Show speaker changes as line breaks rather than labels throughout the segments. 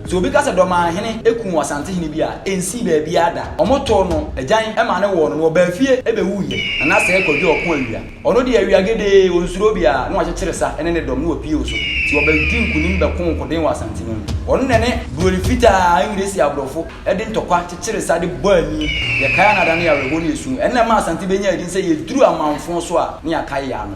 Sɛ obi ka sɛ Dɔmaa hene kuu Asante hene bi a, ɛnsii baabiara da. Wɔtoo no agyan ma no wɔɔ no na ɔbaa fie bɛwuiɛ. Nana Sɛɛ Kwadwo Ɔko Awia. Ɔno deɛ awia gedee, ɔnsuro obiara, na wakyekyere sa ne ne dɔm na wɔpue so. Nti ɔbɛdi nkunim bɛkoo nkoden wɔ Asante no mu. Ɔno na ɛne Buroni Fitaa, Engiresi Aborɔfo, de ntɔkwa kyekyere sa de bɔ ani. Yɛkae a na adane yɛ awerɛhoɔ ne esu. Ɛno na ɛmaa Asante bɛnyaa din sɛ yɛduru amanfoɔ so a na yɛakae yɛn ano.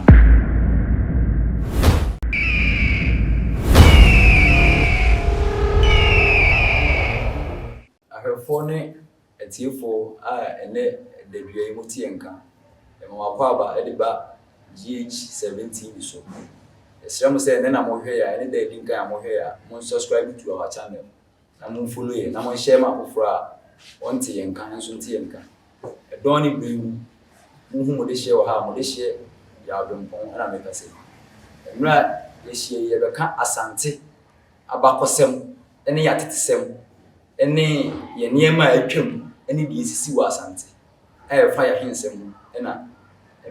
Ahwɛfoɔ ne atiefoɔ a ɛnnɛ da dua yi mo teɛ nka, yɛma mo akwaaba de ba GH 7 TV so. Yɛsrɛ mo sɛ ɛnnɛ na mo rehwɛ yɛn a, ɛne da adi nkan a mo rehwɛ yɛn a, mo subscribe to our channel. na momfo no yɛn, na monhyɛ ma afoforɔ a wɔnte yɛn nka, nanso nte yɛn nka. Ɛdɔn ne berɛ mu, monhu mo dehyeɛ wɔ ha a, mo dehyeɛ yɛ adwempɔn, ɛna meka sɛ, mmerɛ a yɛahyia yi, yɛbɛka Asante abakɔsɛm ne yɛn atetesɛm ne yɛn nneɛma a atwam ne deɛ ɛsisi wɔ Asante. a ɛfa yɛn ahensɛm ho na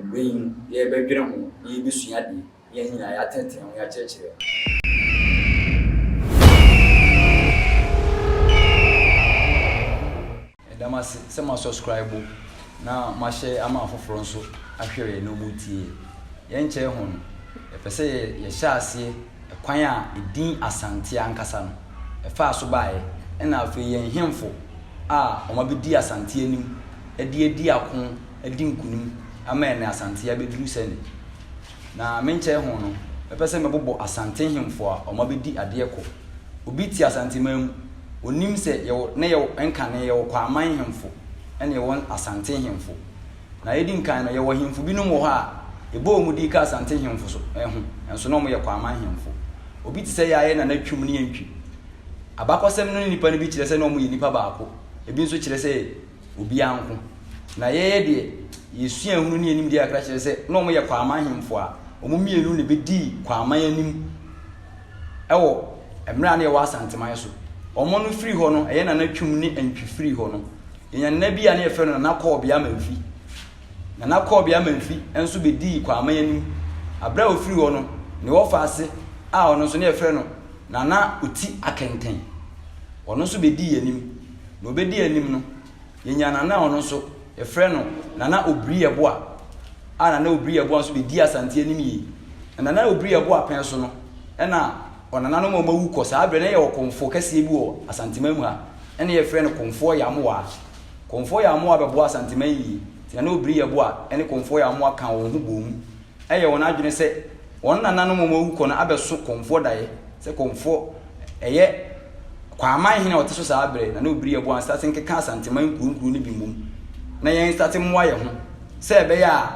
mmerɛ yi mu yɛrebɛdwene ho na yɛrebɛsua adeɛ na yɛn nyinaa yɛatenetene ho yɛakyerɛkyerɛ Meda
mo ase sɛ mo asɔskraibo na mo ahyɛ ama afoforɔ nso ahwɛeɛ na wɔretie yɛn. Yɛnkyɛe ho no, yɛpɛ sɛ yɛhyɛ aseɛ kwan a edin Asante ankasa no faa so baeɛ, ɛna afei yɛn nhemfo a wɔabɛdi Asante anim de adi ako adi nkunim ama ɛnɛ Asante abɛduru sɛ ne. Na menkyɛe ho no, mɛpɛ sɛ mɛbobɔ Asante nhemfo a wɔabɛdi adeɛ kɔ. Obi te Asanteman mu, ɔnim sɛ yɛwɔ, na yɛwɔ, nkane, yɛwɔ Kwaaman nhemfo, ɛna yɛwɔ Asante nhemfo. Na edi nkan no, yɛwɔ hemfo binom wɔ hɔ a, yɛbɔ wɔn din ka Asante hemfo so ho, nanso na wɔyɛ Kwaman hemfo. Obi te sɛ yɛn a yɛn nana Twum ne yɛn Twi. Abakɔsɛm no ne nnipa no bi kyerɛ sɛ na wɔyɛ nnipa baako, ebi nso kyerɛ sɛ obiara nko. Na yɛyɛ deɛ yɛn suahunu ne yɛn nimdeɛ kakra kyerɛ sɛ na wɔyɛ Kwaman hemfo a wɔn mmienu na ɛbɛdii Kwaman anim wɔ mmerɛ a na yɛwɔ Asanteman so. Wɔn no firii hɔ no, ɛyɛ nana Twum ne Ntwi firii hɔ no. Yɛnya nana bi a na yɛfrɛ no Nana Kɔɔbea Amanfi. Nana Kɔɔbea Amanfi nso bɛdii Kwaaman anim. Aberɛ a ɔfiri hɔ no, ne wɔfa ase a ɔno nso na yɛfrɛ no Nana Oti Akɛntɛn. Ɔno nso bɛdii yɛn anim. Na ɔbɛdi yɛn anim no, yɛnya nana a ɔno nso yɛfrɛ no Nana Obiri Yɛboa a Nana Obiri Yɛboa nso bɛdii Asante anim yie. Na Nana Obiri Yɛboa pɛn so no na ɔnananom a wɔawu kɔ saa berɛ no, na yɛwɔ Komfoɔ kɛseɛ bi wɔ Asanteman mu ha, na na yɛfrɛ no Komfoɔ Yamoaa. Komfoɔ Yamoaa bɛboa Asanteman yie, nti na na Obiri Yeboah ne Komfoɔ Yamoaa ka wɔn ho boom, yɛ wɔn adwene sɛ wɔn nananom a wɔawu kɔ no abɛso Komfoɔ daeɛ, sɛ Komfoɔ ɛyɛ Kwaaman hene a ɔte so saa berɛ, na na Obiri Yeboah nstate nkeka Asanteman nkuro nkuro no bi mmom, na yɛn nstate mmoa yɛn ho, sɛ ɛbɛyɛ a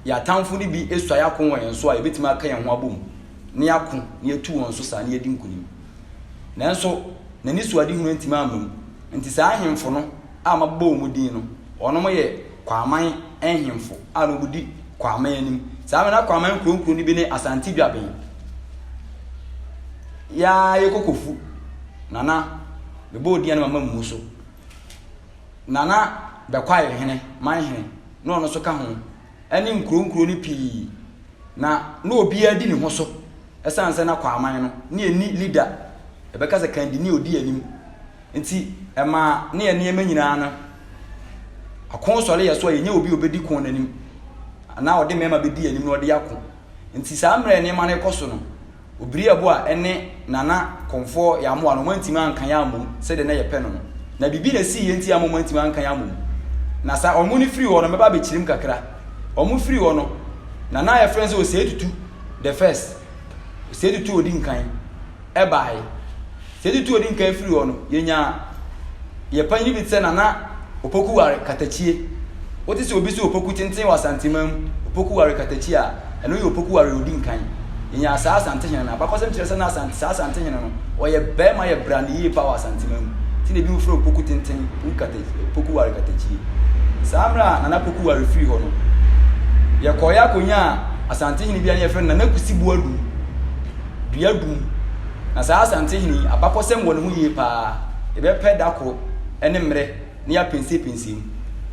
yɛn atamfo no bi suae ako wɔ yɛn so a, yɛbɛtumi aka yɛn ho abom. na yɛako na yɛatu wɔn so saa na yɛadi nkonim. Nanso, n'anisoadehunu antumi amma mu. Enti saa ahemfo no a mabobɔ wɔn din no, wɔnom yɛ Kwaman nhemfo a na wɔdi Kwaman anim. Saa bere na Kwaman nkuro nkuro no bi ne Asante Dwaben, Yaa yɛ Kokofu, Nana, mebɔɔ din a na mama mmu so, Nana Bɛkwae hene, Manhene, na ɔno nso ka ho. ne nkuro nkuro no pii na na obiara di ne ho so ɛsiane sɛ na Kwaaman no ne ɛni lida ɛbɛka sɛ kandi ne ɔdi anim nti ɛma ne yɛ nneɛma nyinaa no ako sɔre yɛ so a yɛnyɛ obi ɔbɛdi ko no anim anaa ɔde mmarima bɛdi anim na ɔde ako nti saa mmerɛ nneɛma no kɔ so no Obiri ɛbo a ɛne Nana Komfoɔ Yamoa no, wɔantumi anka yɛn ammɔ mu sɛdeɛ na yɛpɛ no no. Na biribi na ɛsiiɛ nti ama wɔantumi anka yɛn ammɔ mu. Na saa wɔn no firi hɔ no, mɛba abɛkyerɛ mu kakra. Wɔn firi hɔ no, Nana a yɛfrɛ no sɛ Osei Tutu the first, Osei Tutu a ɔdi nkan, ɛbaeɛ. Sɛ yɛtutu odinkan firi hɔ no, yɛnya yɛ panyin bi te sɛ Nana Opoku Ware Katakyie. Wote sɛ obi se Opoku tenten wɔ Asanteman mu, Opoku Ware Katakyie a, ɛno yɛ Opoku Ware a odi nkan. Yɛnya saa Asantehene no. Abakɔsɛm kyerɛ sɛ na Asante, saa Asantehene no, ɔyɛ barima yɛ brane yie paa wɔ Asanteman mu. Nti na ebinom frɛ Opoku tenten, Opoku Ware Katakyie. Saa mmerɛ a Nana Poku Ware firii hɔ no, yɛkɔeɛ akɔnyaa Asantehene bi a na yɛfrɛ no Nana Kusi Boadu. duadum. Na saa Asantehene yi, abakɔsɛm wɔ ne ho yie pa ara. Yɛbɛpɛ da koro ne mmerɛ na yɛapɛnsɛpɛnsɛ mu.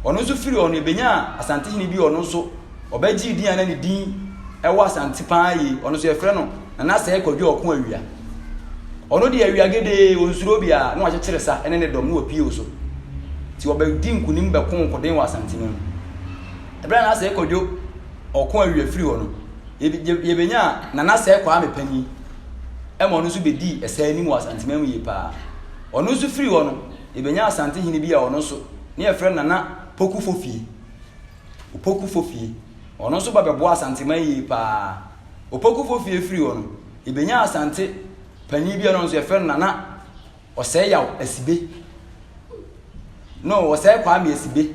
Ɔno nso firi hɔ no, yɛbɛnyaa Asantehene bi a ɔno nso, ɔbɛgyee din a na ne din wɔ Asante pa ara yie. Ɔno nso, yɛfrɛ no Nanasɛe Kwadwo Ɔko Awia. Ɔno deɛ, awia gedee, ɔnsuro obiara, na wakyekyere sa ne ne dɔm na wɔapue wo so. Nti wɔbɛdi nkonim bɛko nkoden wɔ Asantene mu. Ɛberɛ a Nanasɛe Kwadwo ɔko awie afiri hɔ no, yɛbɛnyaa Nana Sɛ Kwame Panyin ma ɔno nso bɛdii ɛsɛ anim wɔ Asanteman mu yie paa. Ɔno nso firi hɔ no, yɛbɛnyaa Asante hene bi a ɔno nso ne yɛfrɛ Nana Poku Fofie. Opoku Fofie. Ɔno nso ba bɛboa Asanteman yie paa. Opoku Fofie firi hɔ no, yɛbɛnyaa Asante panyin bi a ɔno nso yɛfrɛ no Nana Ɔsɛe Yaw Asibe No, Ɔsɛe Kwame Asibe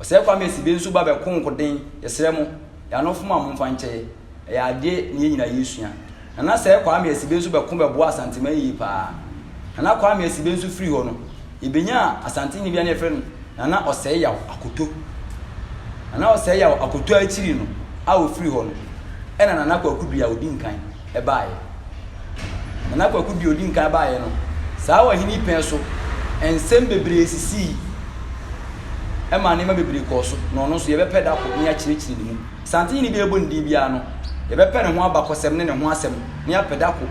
Ɔsɛe Kwame Asibe nso ba bɛko nkoden, yɛsrɛ mo, y'anofo ma momfa nkyɛɛ, ɛyɛ adeɛ ne yɛn nyina yɛsua. Nana Sɛe Kwame Asibe nso bɛko bɛboa Asanteman yie paa. Nana Kwame Asibe nso firi hɔ no, yɛbɛnyaa Asantehene bi a na yɛfrɛ no Nana Ɔsɛe Yaw Akoto. Nana Ɔsɛe Yaw Akoto a akyiri no a ɔfiri hɔ no, ɛna Nana Kwaku Duya ɔdi nkan. baeɛ. Nana Kwaku deɛ ɔdi nkan baeɛ no, saa ɔhene pɛn so nsɛm bebree sisii ma nneɛma bebree kɔɔ so, na ɔno nso yɛbɛpɛ da kɔ na yɛakyerɛkyerɛ ne mu. Santenhene biara bɔ ne din biara no, yɛbɛpɛ ne ho abakɔsɛm ne ne ho asɛm na yɛapɛ da kɔ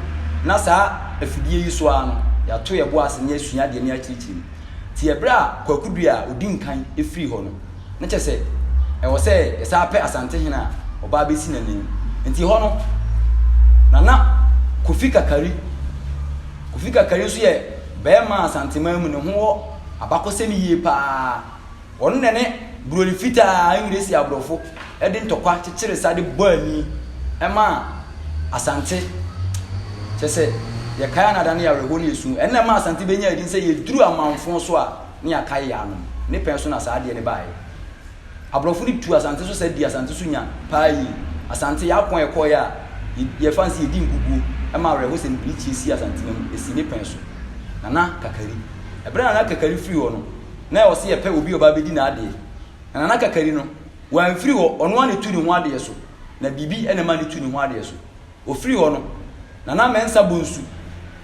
na saa afidie yi so ara no, yɛato yɛn bo ase na yɛasua adeɛ na yɛakyerɛkyerɛ mu. Nti ɛberɛ a Kwaku Duah a ɔdi nkan firii hɔ no, na kyerɛ sɛ ɛwɔ sɛ yɛsan pɛ Asantehene a ɔbaa bɛsi n'anim. Nti hɔ no, Nana Kofi Kakari, Kofi Kakari nso yɛ barima Asanteman mu, ne ho wɔ abakɔsɛm yie paa. Ɔno na ne Buroni Fitaa Engresi Aborɔfo de ntɔkwa kyekyere sa de bɔ ani maa Asante. Kyerɛ sɛ, yɛkae a na ada ne yɛ awerɛhoɔ ne yɛ su. Ɛno na ɛmaa Asante bɛnyaa din sɛ yɛduru amanfoɔ so a, ne yɛakae yɛn anom. Ne pɛn so na saa adeɛ no baeɛ. Aborɔfo no tuu Asante so sa dii Asante so nya paa yie. Asante, yɛn ako a yɛkɔeɛ a yɛfa no sɛ yɛdi nkuguo ma awerɛho sɛ mede mekyie sii Asante no mu, ɛsii ne pɛn so. Nana Kakari. Ɛberɛ a Nana Kakari firi hɔ no, na yɛwɔ sɛ yɛpɛ obi a ɔba abɛdi n'adeɛ. Na Nana Kakari no, wamfiri hɔ, ɔno ara na ɛtu ne ho adeɛ so. Na biribi na ɛma no tu ne ho adeɛ so. Wɔfirii hɔ no, Nana Mensah Bonsu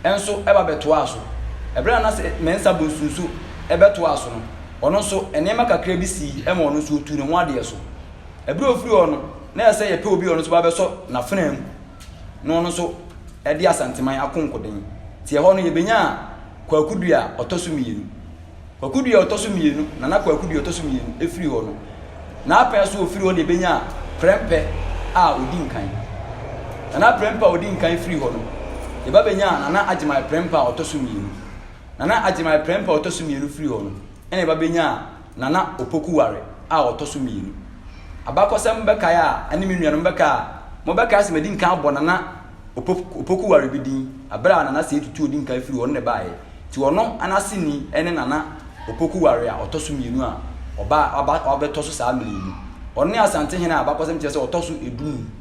nso ba bɛtoaa so. Bere a Nana Mensah Bonsu nso bɛtoaa so no, ɔno nso, nneɛma kakra bi sii ma ɔno nso ɔtuu ne ho adeɛ so. Bere a ɔfirii hɔ no, na ɛsɛ sɛ yɛpɛ obi a ɔno nso bɛba bɛsɔ n'afenaa mu na ɔno nso de Asanteman akonkoden. Nti ɛhɔ no, yɛbɛnyaa Kwaku Duah a ɔtɔ so mmienu. Kwaku Duah ɔtɔ so mmienu, Nana Kwaku Duah ɔtɔ so mmienu, efiri hɔ no, n'apɛn so ofiri hɔ na ebenyaa Prɛmpɛ a odi nkan. Nana Prɛmpɛ a odi nkan firi hɔ no, yɛba benyaa Nana Agyemang Prɛmpɛ a ɔtɔ so mmienu. Nana Agyemang Prɛmpɛ a ɔtɔ so mmienu firi hɔ no, ɛna yɛba benyaa Nana Opoku Ware a ɔtɔ so mmienu. Abakɔsɛm bɛkae a, ɛne me nuanom bɛkae a, wɔbɛkae sɛ madi nkan abɔ Nana Opoku waree bi din bere a Nana Setutu a odi nkan firi wɔn na ɛbaeɛ. Nti ɔno ne aseni ne Nana Opoku waree a ɔtɔ so mmienu a ɔbaa aba abɛtɔ so saa mmerɛ yi mu. Ɔno ne Asantehene a abakɔsɛm kyerɛ sɛ ɔtɔ so du num.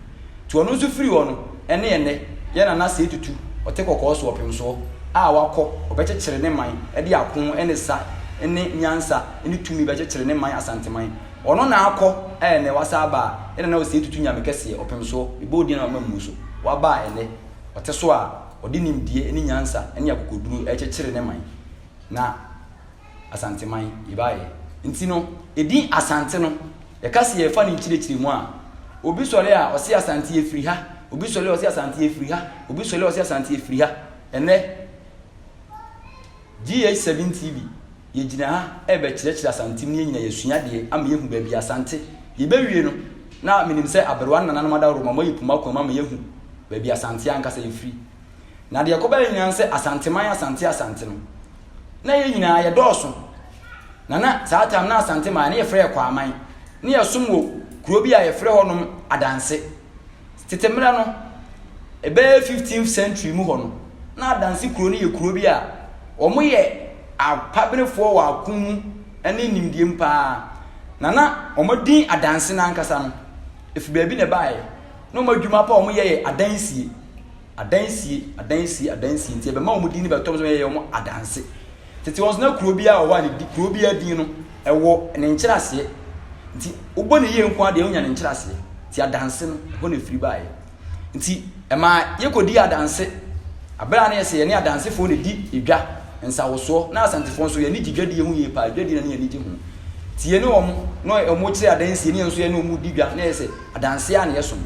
Nti ɔno nso firi hɔ no ne ɛnnɛ yɛ Nana Setutu ɔte kɔkɔɔ so ɔpemsoɔ a wakɔ ɔbɛkyekyere ne man de ako ne sa ne nyansa ne tumi bɛkyekyere ne man Asanteman Ɔno na akɔ, a ɛnnɛ wasan aba a, ɛna na ɔsɛe tutu nyame kɛseɛ, ɔpem soɔ, mebɔ wo din a wama mmu so, waba a ɛnnɛ ɔte so a ɔde nimdeɛ ne nyansa ne akokoduro rekyekyere ne man, na Asanteman yɛbaeɛ. Nti no, edin Asante no, yɛka sɛ yɛrefa ne nkyerɛkyerɛmu a, obi sɔre a ɔse Asante yɛfiri ha, obi sɔre a ɔse Asante yɛfiri ha, obi sɔre a ɔse Asante yɛfiri ha, ɛnnɛ, GH7 TV, Yɛgyina ha rebɛkyerɛkyerɛ Asantem ne yɛnyina yɛasua deɛ ama yɛahu baabi a Asante Yɛbɛwie no na menim sɛ aberewa ne nananom adaworo ma moayi poma kwan mu ama yɛahu baabi Asante ankasa yɛfiri Na deɛ ɛkɔbaeɛ nyinaa ne sɛ Asanteman Asante Asante no na yɛn nyinaa yɛdɔɔso Na na saa time na Asante man no yɛfrɛ yɛ Kwaman na yɛsom wɔ kuro bi a yɛfrɛ hɔnom Adanse Tete mmere no, ɛbɛyɛ fifteenth century mu hɔ no, na Adansi kurow no yɛ kurow bi a wɔyɛ apaberefoɔ wɔ ako mu ne nimdeɛ mu pa ara, na na wɔadi Adansi no ankasa no, ɛfiri baabi na ɛbaeɛ. Na wɔn adwuma pa a wɔyɛ yɛ adansie. Adansie, adansie, adansie nti ɛbɛma wɔn din no bɛtɔ wɔn so yɛyɛ wɔn adanse. Tete wɔn nso na kuro biara wɔ hɔ a ne di kuro biara din no ɛwɔ ne nkyerɛaseɛ. Nti wobɔ ne yie nko ara deɛ wonya ne nkyerɛaseɛ. Nti adanse no ɛhɔ na ɛfiri baeɛ. Nti ɛmaa yɛkɔdii adanse. Aberɛ a na yɛsɛ yɛne adansefoɔ na ɛdi edwa, nsawosoɔ, na Asantefoɔ nso yɛn ani gye dwadie ho yie paa, dwadie na na yɛn ani gye ho. Nti yɛne wɔn na wɔkyerɛ adansie na yɛn nso yɛne wɔn di dwa na yɛsɛ adanseɛ a na yɛsom.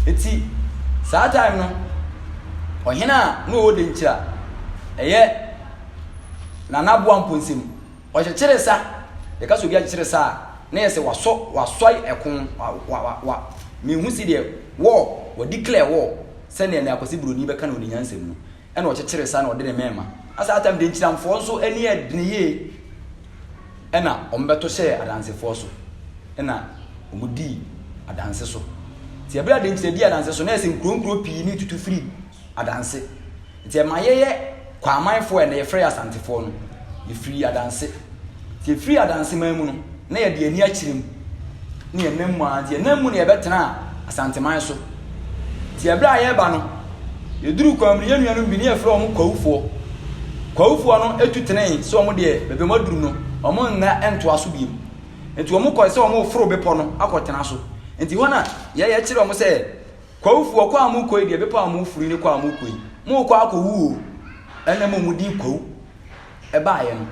Nti saa time no ɔhene a na ɔwɔ Denkyira ɛyɛ Nana Aboa Mponsem ɔkyekyere sa, yɛka sɛ obi akyekyere sa a na yɛ sɛ wasɔ wasɔe ɛko wa wa wa wa mehu si deɛ war wa declare war sɛdeɛ Nene Akwasi Broni bɛka no ne nyansam no Ɛna ɔkyekyere sa na ɔde ne mɛɛma. Na saa tam de nkyiramfoɔ nso ani yɛ dene yie. Ɛna wɔn bɛto hyɛɛ adansefoɔ so. Ɛna wɔn dii adanse so. Nti ɛberɛ a adenkyira dii adanse so na ɛsɛ nkuro nkuro pii ne tutu firi adanse. Nti ɛma yɛyɛ kwaamanfoɔ a ɛnɛ yɛfrɛ yɛ asantefoɔ no. Yɛfiri adanse. Nti yɛfiri adanseman mu no, na yɛde yɛn ani akyerɛ mu, ne yɛn nam mu ara. Nti yɛn nam mu na yɛbɛtenaa Asanteman so. Nti ɛberɛ a yɛreba no, yɛduruu kwan mu no, yɛn nuanom bi ne yɛfrɛ wɔn Kwawufoɔ. Kwawufoɔ no tu tenee sɛ wɔn deɛ baabi a wɔaduru no, wɔn nna ntoa so bio. Nti wɔn kɔe sɛ wɔn reforo bepɔ no akɔtena so. Nti hɔ na yɛ yɛkyerɛ wɔn sɛ, Kwawufoɔ, kwan a morekɔ yi deɛ, bepɔ a moreforo yi ne kwan a morekɔ yi, morekɔ akɔwu o. Ɛnna mmom wɔdin Kwawu. ɛbaeɛ no.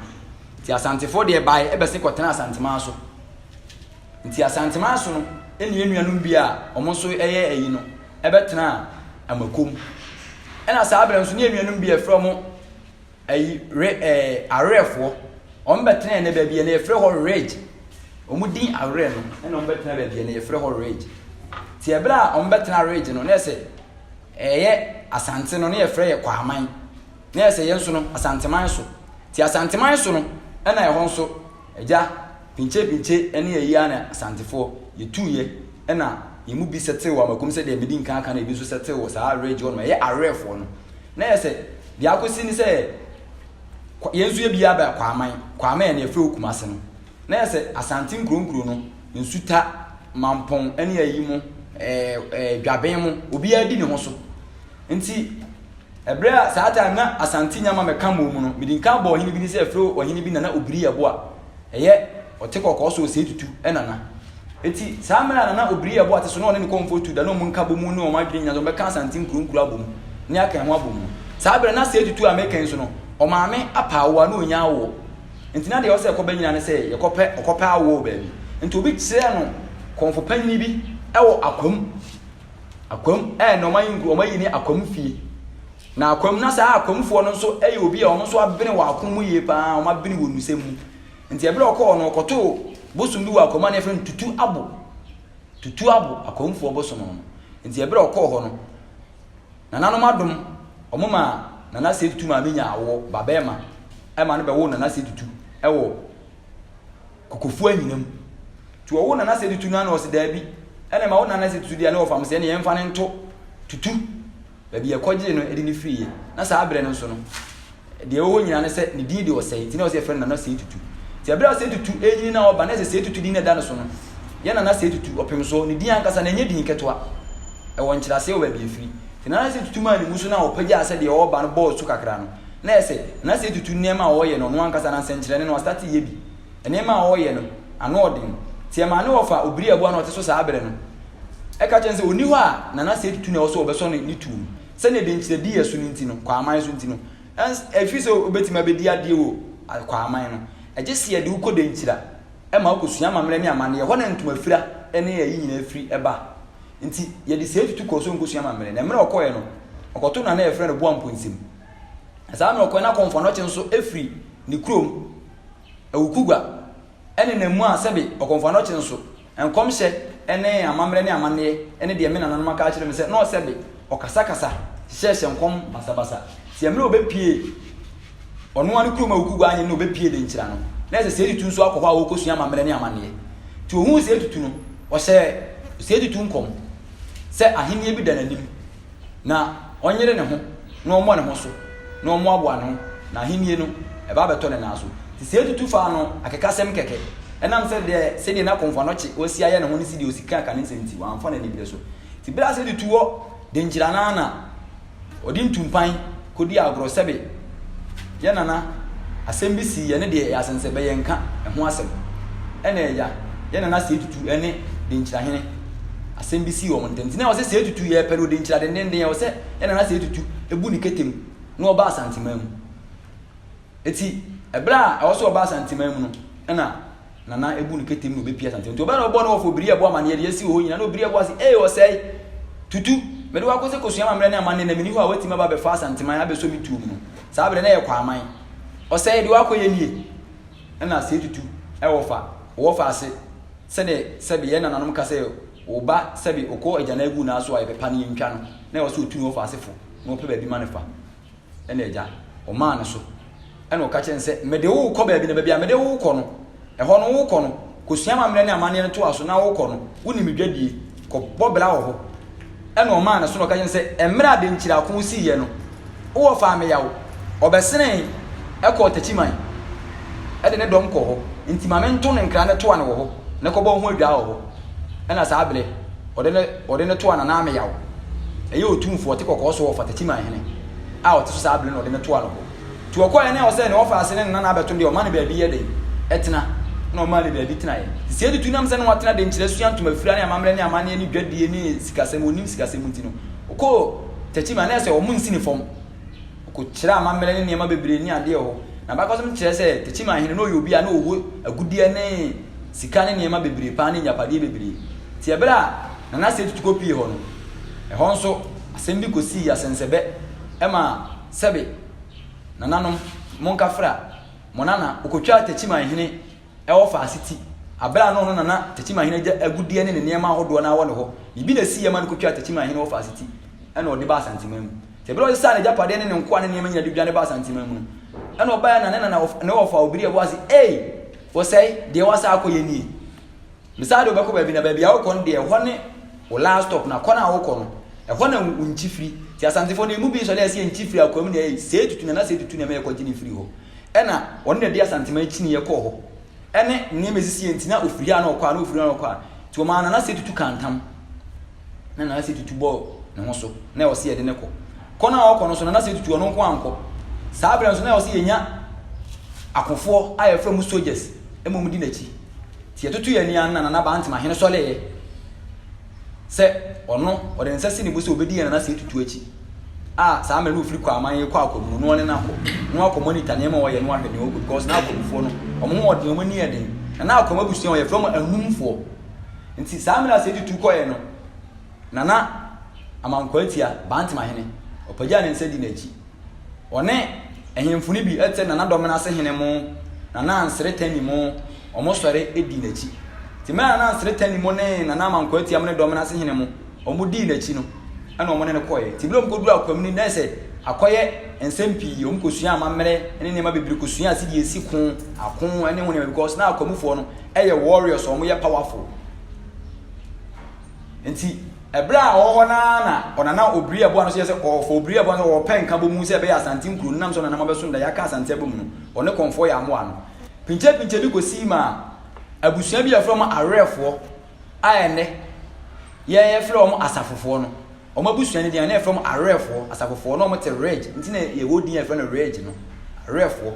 Nti Asantefoɔ deɛ baeɛ bɛse kɔtena Asanteman so. Nti Asanteman so no ɛne yɛn nuanom bi a wɔn nso yɛ ayi no ɛbɛtenaa Amakom. Ɛna saa berɛ nso ne yɛn nuanom bi a yɛfrɛ wɔn ayi re ɛɛ awerɛfoɔ wɔn bɛtenaa ne baabi a na yɛfrɛ hɔ ridge. Wɔn din awerɛ no ɛna wɔn bɛtena baabi a na yɛfrɛ hɔ ridge. Ti ɛberɛ a wɔn bɛtena ridge no na ɛsɛ ɛyɛ Asante no na yɛfrɛ yɛ Kwaman. na ɛsɛ yɛn nso no Asanteman so. Nti Asanteman so no ɛna ɛhɔ nso agya pinkye pinkye ɛne ayi ara na Asantefoɔ yɛtuuiɛ ɛna yɛn mu bi sɛtew wɔ Amakom sɛdeɛ medi nkan aka no ebi nso sɛtew wɔ saa awerɛ agyi hɔ nom ɛyɛ awerɛfoɔ no na yɛ sɛ deɛ akɔsi ne sɛ yɛn nso yɛ bi aba Kwaaman Kwaaman ɛna yɛfrɛ wɔ Kumase no na yɛ sɛ Asante nkuronkuro no nsuta mampɔn ɛne ayi mu ɛɛ ɛɛ dwaben mu obiara di ne ho so nti Bere a saa time na Asante nya ma mɛka mmɔɔ mu no, mede nka bɔɔ ɔhene bi ne sɛ frɛ ɔhene bi Nana Obiri Yɛbo a ɛyɛ ɔte kɔkɔɔ so Osei Tutu nana. Enti saa mmerɛ a Nana Obiri Yɛbo a te so na ɔne ne kɔmfoɔ tu da na wɔn nka bɔ mu ne wɔn adwene nyina sɛ wɔbɛka Asante nkuro nkuro abɔ mu ne aka ɛho abɔ mu no, saa berɛ na Sei Tutu a meka yi nso no, ɔmaame apa awoɔ a na ɔnnya awoɔ. Enti na deɛ ɔsɛ ɛkɔba nyina ne sɛ yɛkɔpɛ ɔkɔpɛ awoɔ wɔ baabi. Enti obi kyerɛɛ no kɔmfo panyini bi wɔ Akwam. Akwam ɛɛ na wɔayɛ nkuro, wɔayi ne akwam fie. Na akwam na saa akwamfoɔ no nso yɛ obi a wɔn nso abene wɔn ako mu yie paa, wɔn abene wɔn nsɛm mu. Nti ɛberɛ ɔkɔɔ no ɔkɔtoo bosom bi wɔ akwam a na yɛfrɛ no tutu abo. Tutu abo, akwamfoɔ bosom no. Nti ɛberɛ ɔkɔɔ hɔ no, nananom adom, wɔn ma nana sɛ tutu maame nya awoɔ, ba bɛɛma, ɛma no bɛwoo nana sɛ tutu ɛwɔ Kokofuo anyina mu. Nti ɔwo nana sɛ tutu no ana ɔse daabi. Ɛna ma wo nana sɛ tutu deɛ ɛne ɔfam sɛ ɛne yɛmfa no nto tutu. Baabi yɛkɔgyee no ɛde no firiiɛ. Na saa berɛ no nso no deɛ ɛwɔ hɔ nyina ne sɛ ne din de ɔsɛe. Nti na ɔse yɛfrɛ no nana sɛ tutu. Nti ɛberɛ a sɛ tutu ɛnyini na ɔba na ɛsɛ sɛ tutu din na ɛda no so no yɛ nana sɛ tutu ɔpem soɔ. Ne din ankasa no ɛnyɛ din ketewa. Ɛwɔ nkyerɛaseɛ wɔ baabi ɛfiri. Nti nana sɛ tutu maa ne mu so na ɔpagyaa sɛ deɛ ɔreba no bɔɔ so kakra no. na ɛsɛ na sɛ etutu nneɛma a ɔreyɛ no ɔno ankasa na nsɛnkyerɛnne no astate yɛ bi. Nneɛma a ɔreyɛ no ano ɔden. Nti ɛma ne wɔfa obiri a ɛboa no a ɔte so saa bere no ɛka kyerɛ no sɛ onni hɔ a na na sɛ etutu no a ɛwɔ sɛ wɔbɛsɔ ne ne tuo mu. Sɛnea denkyirɛdi yɛ so no nti no, kwaaman so nti no, ɛns ɛfiri sɛ obetumi abedi adeɛ wɔ kwaaman no, ɛgye sɛ yɛde wo kɔ denkyira ɛma wo kosua amammerɛ ne amanneɛ, ɛhɔ na ntomafira ne ɛyi nyinaa firi ɛba. Nti yɛde sɛɛ tutu kɔɔ so nkosua amammerɛ. Na mmerɛ ɔkɔeɛ no ɔkɔto nana a yɛfrɛ no Boamponsem. Saa ara na ɔkɔe na Kɔmfoanɔkye nso firi ne kurom, Awukugua, ne nna mu a sɛbe Ɔkɔmfoanɔkye nso, nkɔmhyɛ ne amammerɛ ne amanneɛ ne deɛ me nananom aka akyerɛ me sɛ na ɔsɛbe, ɔkasakasa, hyehyɛɛhyɛ nkɔm basabasa. Sɛ mmerɛ a ɔbɛpue ɔno ara ne kurom Awukugua annyɛ nnɛ ɔbɛpue Denkyira no, na ɛsɛ Seedi Tu nso akɔ hɔ a ɔrekɔsua amammerɛ ne amanneɛ. Nti ɔhuu Seedi Tu no, ɔhyɛɛ Seedi Tu nkɔm sɛ ahennie bi da n'anim. na ɔnyere ne ho na ɔmmɔ ne ho so na ɔmmoaboa ne ho na ahennie no ɛba abɛtɔ ne nan so. Nti sɛ yɛtutu fa ano akekasɛm kɛkɛ ɛnam sɛ deɛ sɛdeɛ na Komfo-Anokye ɔsi ayɛ ne ho ne sɛdeɛ ɔsi ka ka ne nsɛm nti wamfa n'ani berɛ so. Nti berɛ a sɛ tutu wɔ denkyira no ara na ɔde ntumpan kɔdi agorɔ sɛbe Yɛn nana, asɛm bi sii yɛne deɛ ɛyɛ asɛnsɛ bɛyɛ nka ho asɛm. Ɛna ɛya, yɛn nana Sɛɛ Tutu ne Denkyirahene, asɛm bi sii wɔn ntam. Nti na ɛwɔ sɛ Sɛɛ Tutu yɛ pɛ no Denkyira dendenden, ɛwɔ sɛ yɛn nana Sɛɛ Tutu bu ne kete mu na ɔba Asanteman mu. Ɛti ɛberɛ a ɛwɔ sɛ ɔba Asanteman mu no, ɛna. na na ebu no kete mu na obepia asante nti ɔbɛn na ɔbɔ no wɔ fo biri ɛbɔ amaneɛ deɛ esi wɔ hɔ nyina na obiri ɛbɔ ase ee ɔsɛe tutu mede wakɔ sɛ kosua amammerɛ ne amanne na meni hɔ a watumi aba abɛfa asanteman abɛsɔ me tuo mu no saa berɛ na ɛyɛ kwaman ɔsɛe de wakɔ yɛ nie ɛna sɛ tutu ɛwɔ fa wɔ fa ase sɛde sɛbe yɛ nananom ka sɛ wo ba sɛbe okɔ agya na agu na aso a yɛbɛpa no yɛntwa no na ɛwɔ sɛ otu ne wɔ fa asefo na ɔpɛ baabi ma ne fa ɛna agya ɔmaa no so ɛna ɔka kyerɛ no sɛ mede wo rekɔ baabi na baabi a mede wo rekɔ no ɛhɔ no wokɔ no kɔsua amammerɛ ne amanneɛ no toa so na wokɔ no wonim medwadie kɔbɔ bra wɔ hɔ ɛna ɔmaa no so na ɔka kyerɛ no sɛ mmerɛ a denkyirako siiɛ no wowɔ faa me yaw ɔbɛsene ɛkɔɔ takyiman ɛde ne dɔm kɔ hɔ nti ma mento ne nkra ne toa no wɔ hɔ na kɔbɔ ho adwaa wɔ hɔ ɛna saa bere ɔde no ɔde no toa Nana Ameyaw. Ɛyɛ otumfoɔ ɔte kɔkɔɔ so wɔ Ɔfata Timan hene a ɔte so saa bere no na ɔde no toa no hɔ. Nti ɔkɔeɛ na ɛwɔ sɛ ne ɔfa ase ne ne nana abɛto no deɛ ɔma no baabi yɛ dɛn? Ɛtena. Ɛna ɔmaa no baabi tenaeɛ. Nti sɛ ɛtutu nam sɛ ne watena de nkyerɛ sua ntomafira ne amammerɛ ne amanneɛ ne dwadie ne sikasɛm, ɔnim sikasɛm nti no, ɔkɔɔ Tachiman na ɛsɛ ɔmo nsi ne fam. Ɔkɔkyerɛɛ amammerɛ ne nneɛma bebree ne adeɛ wɔ hɔ. N'abakɔsɛm kyerɛ sɛ Techiman hene no ɔyɛ obi a na ɔwɔ agudeɛ ne sika ne nneɛma bebree paa ne agyapadeɛ bebree. Nti ɛberɛ a Nana Sei Tutu kɔpuee hɔ no, ɛhɔ nso asɛm bi kɔsii asɛnsɛbɛ ma sɛbe nananom monkafra mo nana ɔkɔtwaa Techiman hene wɔ Faasiti aberɛ a na ɔno nana Techiman hene agya agudeɛ ne ne nneɛma ahodoɔ no ara wɔ ne hɔ. Biribi na ɛsiiɛ ma no kɔtwaa Techiman hene wɔ Faasiti ɛna ɔde baa Asanteman mu. Bere a ɔsesaa n'agyapadeɛ ne ne nkoa ne nneɛma nyina de dwane baa Asanteman mu no, ɛna ɔbaeɛ na ne na na ɔf- ne wɔfa obiri ɛbɔ ase, ei, wɔsɛe, deɛ wɔasaa akɔ yɛ nie. Mesaa de wobɛkɔ baabi na baabi a wokɔ no deɛ ɛhɔ ne wo last stop na kɔ no a wokɔ no, ɛhɔ na wo nkyi firi. Nti Asantefoɔ no, ɛmu bi sɔre a ɛsɛ yɛnkyi firi akoa mu na ei, sei tutu na na sei tutu na ɛma yɛkɔgye no firi hɔ. Ɛna ɔno na ɛde Asanteman kyiniiɛ kɔɔ hɔ. Ɛne nneɛma ɛsisiiɛ nti na ɔfiri ha na ɔkɔ ha na ɔfiri ha na ɔkɔ ha. Nti wɔmaa no na sei tutu kaa ntam. na Nana Setutu bɔɔ ne ho so na ɛwɔ sɛ yɛde no kɔ. Kɔ no a ɔkɔ no so Nana Setutu ɔno nko ankɔ. Saa berɛ nso na ɛwɔ sɛ yɛnya akofoɔ a yɛfrɛ mu soldiers ma wɔdi n'akyi. Nti yɛtoto yɛn ani ano na Nana Bantim ahene sɔreeɛ sɛ ɔno ɔde ne nsa si ne bo sɛ ɔbɛdi yɛn Nana Setutu akyi a saa mmerɛ no ɔfiri kɔ aman yɛkɔ akɔ mu no na ɔne no akɔ na wakɔ monitor nneɛma ɔyɛ na wahwɛ nea ɔkɔ because na akɔmufoɔ no wɔn ho ɔden wɔn ani yɛ den na na akɔm abusua wɔn yɛfrɛ wɔn anumfoɔ Nti saa mmerɛ a Seidu tu kɔeɛ no, Nana Amankwaatia, Bantama hene, ɔpagyaa ne nsa dii n'akyi. Ɔne ahemfo no bi te Nana Dɔmenase hene mo, Nana Ansere Tani mo, wɔn sɔre dii n'akyi. Nti mmerɛ a Nana Ansere Tani mo ne Nana Amankwaatia mo ne Dɔmenase hene mo, wɔn dii n'akyi no, ɛna wɔn ne no kɔeɛ. Nti mmerɛ a wɔkɔduruu Akwamuni na ayɛ sɛ akɔyɛ nsɛm pii, wɔkɔsuaa amammerɛ ne nneɛma bebree kɔsuaa sɛdeɛ yɛsi ko, ako ne ho nneɛma because na Akwamufoɔ no, yɛ warriors wɔn yɛ powerful nti ɛberɛ a ɔwɔ hɔ naa na ɔnana obiri ɛboa no so yɛ sɛ ɔfɔ obiri ɛboa no sɛ ɔpɛ nka bɔ mu sɛ ɛbɛyɛ asante nkuro no nam sɛ ɔnana mabɛso nda yɛaka asante abɔ mu no ɔne kɔnfoɔ yɛ amoa no pinkyɛ pinkyɛ bi kɔsii ma abusua bi yɛfrɛ wɔn awerɛfoɔ a ɛnɛ yɛfrɛ wɔn asafofoɔ no wɔn abusua no deɛ na yɛfrɛ wɔn awerɛfoɔ asafofoɔ na wɔn te reg nti na yɛwɔ din yɛfrɛ no reg no awerɛfoɔ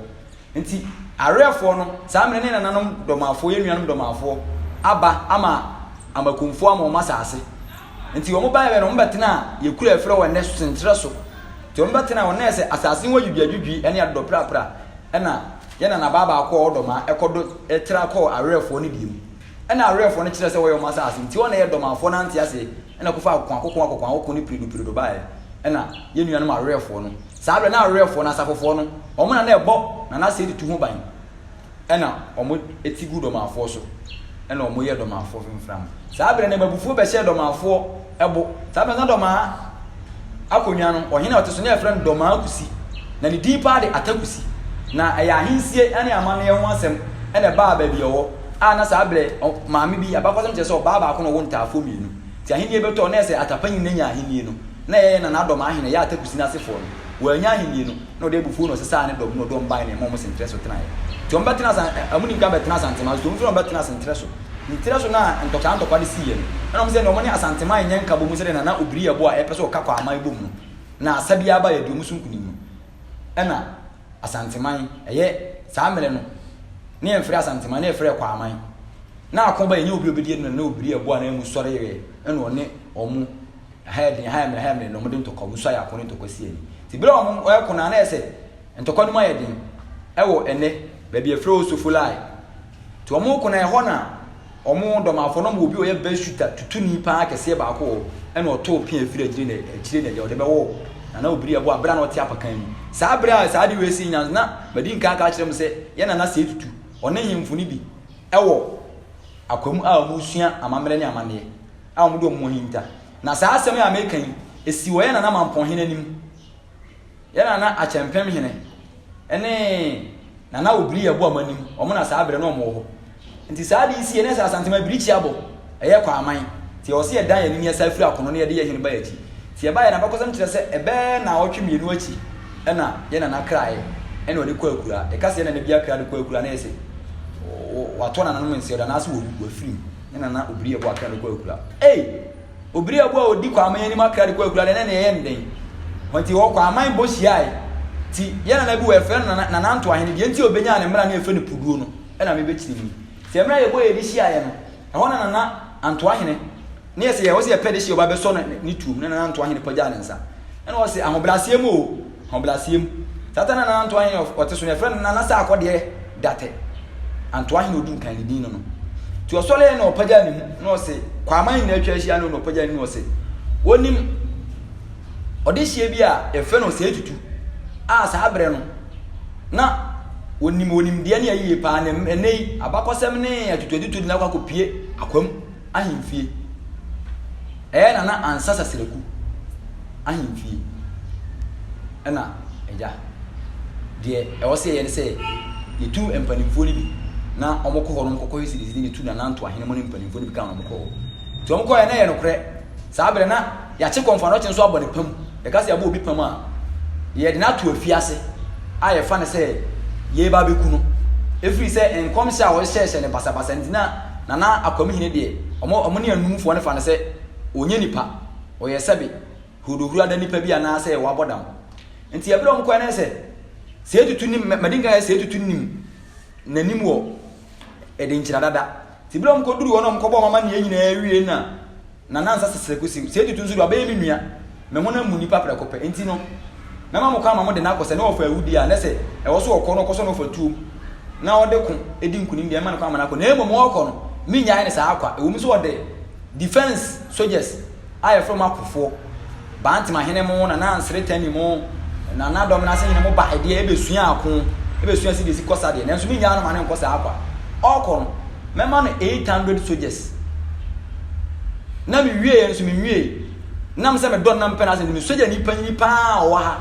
Nti awereɛfoɔ no, saa mmerɛ ne nananom dɔmaafoɔ, yɛn nuanom dɔmaafoɔ, aba ama amakumfoɔ ama wɔn asaase. Nti wɔn baɛ bɛ no, wɔn bɛtenaa yɛ kuro a yɛfrɛ hɔ ɛnnɛ Senkyerɛ so. Nti wɔn bɛtenaa hɔ, na yɛ sɛ asaase ho adwidwiadwidwi ne adodɔprapra. Ɛna yɛn nanabaa baako a ɔwɔ dɔmaa ɛkɔdo tra kɔɔ awereɛfoɔ no deɛ mu. Ɛna awereɛfoɔ no kyerɛɛ sɛ wɔyɛ wɔn asaase. Nti wɔn na yɛ dɔmaafoɔ no ante aseɛ. Ɛna ɔkɔfaa akokoakoko, akokoakoko ne piridopiridɔ baeɛ, ɛna yɛn nuanom awerɛfoɔ no, saa berɛ na awerɛfoɔ no, asafofoɔ no, wɔn na na ɛbɔ Nana Asseidi tu ho ban, ɛna wɔte guu Dɔmafoɔ so, ɛna wɔyɛɛ Dɔmafoɔ fimfram. Saa berɛ no, ɛma abufuo bɛhyɛɛ Dɔmafoɔ bo, saa berɛ no na Dɔmaa. akonnwa no, ɔhene a ɔte so na yɛfrɛ no Dɔmaa Kusi, na ne din paa de Atakusi. Na ɛyɛ ahensie ne amanneɛ ho asɛm na ɛbaa baabi a ɔwɔ, a na saa berɛ maame bi, abakɔsɛm kyerɛ sɛ ɔbaa baako na ɔwo ntaafoɔ mmienu. Nti ahennie bɛtɔɔ, na ɛyɛ sɛ Atapanyini na nya ahennie no, na ɛyɛ Nana Dɔmaa hene, ɛyɛ Atakusi no asefoɔ no, wɔannya ahennie no. na ɔde abufuo na ɔsesaa ne dɔm na ɔde wɔn bae na ɛma wɔn senterɛ so tenaeɛ. Nti wɔn bɛtena asa ɛmu ni nka bɛtena asantema so wɔn nso na wɔbɛtena senterɛ so. Nti terɛ so na ntɔkwa ntɔkwa de siiɛ no ɛna wɔn sɛ na wɔn ne asantema nyɛ nka bɔ mu sɛdeɛ nana obiri ɛbɔ a ɛpɛ sɛ ɔka kɔ aman bɔ mu no na asa bi aba yɛde wɔn so nkunim no ɛna asanteman ɛyɛ saa mmerɛ no ne yɛmfrɛ asanteman ne yɛfrɛ kɔ aman na ako ba yɛnyɛ obi obedi ɛna nana obiri ɛbɔ a na ɛmu sɔre yɛ ɛna ɔne wɔn Ɛha yɛ den, ɛha yɛ mmerɛ, ɛha yɛ mmerɛ, na wɔde ntɔkwa, wɔn nso ayɛ ako ne ntɔkwa si ani. Nti berɛ a wɔreko no, a na ayɛ sɛ ntɔkwa no mu ayɛ den wɔ ɛnnɛ baabi a yɛfrɛ hɔ Sofolai. Nti wɔreko no, a ɛhɔ na wɔn dɔmafoɔ, na wɔwɔ obi a ɔyɛ bɛsuta tutuni paa kɛseɛ baako wɔ hɔ, ɛna ɔtoo pea firi akyire na akyire na deɛ ɔde bɛwɔ hɔ, na na ɔbiri ɛbɔ a berɛ a na ɔte apakan mu. Saa berɛ a saa ade wei sii nyans na madi nkan aka akyerɛ mo sɛ yɛn nana Sɛɛ Tutu, ɔne nhemfo no bi wɔ akwam a wɔresua amammerɛ ne amanneɛ. a wɔde wɔn ho ahinta. Na saa asɛm yi a meka yi, esi wɔ yɛn nana Mampɔnhene anim. Yɛn nana Akyɛmpemhene ne nana Obiri Yabuam anim, wɔn na saa berɛ no wɔn wɔ hɔ. Nti saa ade yi sie, na ɛsɛ Asantema birikyi abɔ, ɛyɛ Kwaman. Nti ɛwɔ sɛ yɛdan yɛn anim, yɛsan firi akono na yɛde yɛn hene ba yɛn akyi. Nti yɛbaeɛ no, abakɔsɛm kyerɛ sɛ ɛbɛyɛ nnawɔtwe mmienu akyi na yɛn nana kraeɛ na wɔde kɔɔ akuraa. Yɛka sɛ yɛn nana bi akra de kɔɔ akuraa na ɛyɛ sɛ wɔatɔ nananom nseɛdo anaasɛ wɔafirim. ne nana obiri ɛbɔ akra de kɔ akura ei obiri ɛbɔ a odi kwaman anim akra de kɔ akura deɛ ne na ɛyɛ nden wɔn ti hɔ kwaman bɔ hyiae ti yɛ nana bi wɔ ɛfrɛ no nana nana nto ahene deɛ nti obenya ne mmra ne ɛfrɛ no puduo no ɛna mebe kyerɛ mu sɛ mmra yɛ bɔ yɛ de hyiaeɛ no ɛhɔ na nana anto ahene ne yɛ sɛ yɛ hɔ sɛ yɛ pɛ de hyɛ ɔba bɛsɔ ne tuom ne nana anto ahene pagya ne nsa ɛna ɔsɛ ahobrɛaseɛ mu o Ɔbrasea mu. Tata Nana Antoa hene a ɔte so no, yɛfrɛ no Nana Sarkodie Datte. Antoa hene a ɔdi nkan, ne din no no. Nti ɔsɔreeɛ na ɔpagyaa ne mu na ɔse, kɔ aman nyinaa atwa ahyia no na ɔpagyaa ne mu na ɔse, wonim ɔdehyeɛ bi a yɛfrɛ no Osei Tutu a saa berɛ no na wɔnim wɔnimdeɛ ne ayie paa na ɛnnɛ yi abakɔsɛm ne atutuatutu de no akɔ akɔpie akwam. Ahemfie. Ɛyɛ Nana Ansah Saseraku ahemfie na agya. Deɛ ɛwɔ sɛ yɛyɛ ne sɛ yɛtu mpanimfoɔ no bi na wɔkɔ hɔ nom kɔkɔhwɛ sɛdeɛ ɛsi ne yɛtu Nana Ntoahene mu ne mpanimfoɔ no bi ka wɔn kɔ hɔ. Nti wɔkɔɛ na ɛyɛ nokorɛ saa berɛ na Yɛate kɔmfo anɔkye nso abɔ no pam. Yɛka sɛ yɛabɔ obi pam a, yɛde no ato afiase a yɛfa no sɛ yɛreba abɛku no. Ɛfiri sɛ nkɔmhyɛ a wɔhyehyɛɛhyɛ no basabasa nti na Nana Akwamihene deɛ, wɔn wɔn ne anumfoɔ no fa no sɛ ɔnyɛ nipa, ɔyɛ sɛbe Hodohurada nipa bi anaasɛ wabɔ dam. Nti ɛberɛ a wɔkɔɛ no sɛ Seatutu nim, mɛ madi nka sɛ Seatutu nim n'anim wɔ Ɛdenkyira dada. Nti berɛ a wɔkɔduruu hɔ na wɔkɔbɔɔ wɔn amanneɛ nyinaa wiei na Na na nsa sesere kosiw sɛ etutu nso de, ɔbɛyɛ me nua. Me honam mu nnipa prɛko pɛ. Enti no, mɛma mo kwan ma mode no akɔ. Sɛ na ɔfa awu deɛ a, na sɛ ɛwɔ sɛ ɔkɔ no, ɔkɔsɔ na ɔfa tuom, na ɔde ko di nkonim deɛ, mɛma no kwan ma no akɔ. Na mmom ɔrekɔ no, merennyae no saa kwa, ɛwom sɛ ɔde defense soldiers a yɛfrɛ wɔn akofoɔ. Bantim ahene mo, Nana Nsere Tami mo, Nana Dɔm Nase hene mo ba ɛdeɛ ɛbɛsua ako, ɛbɛsua sɛdeɛ ɛsi kɔ sa deɛ, nanso mennyaa no ma no nkɔ saa kwa. Ɔrekɔ no, mɛma no eight hundred soldiers. Na mewieeɛ nso menwieeɛ. Nam sɛ medɔ no na mepɛ no asɛm nti, me sogyani panyin pa ara a ɔwɔ ha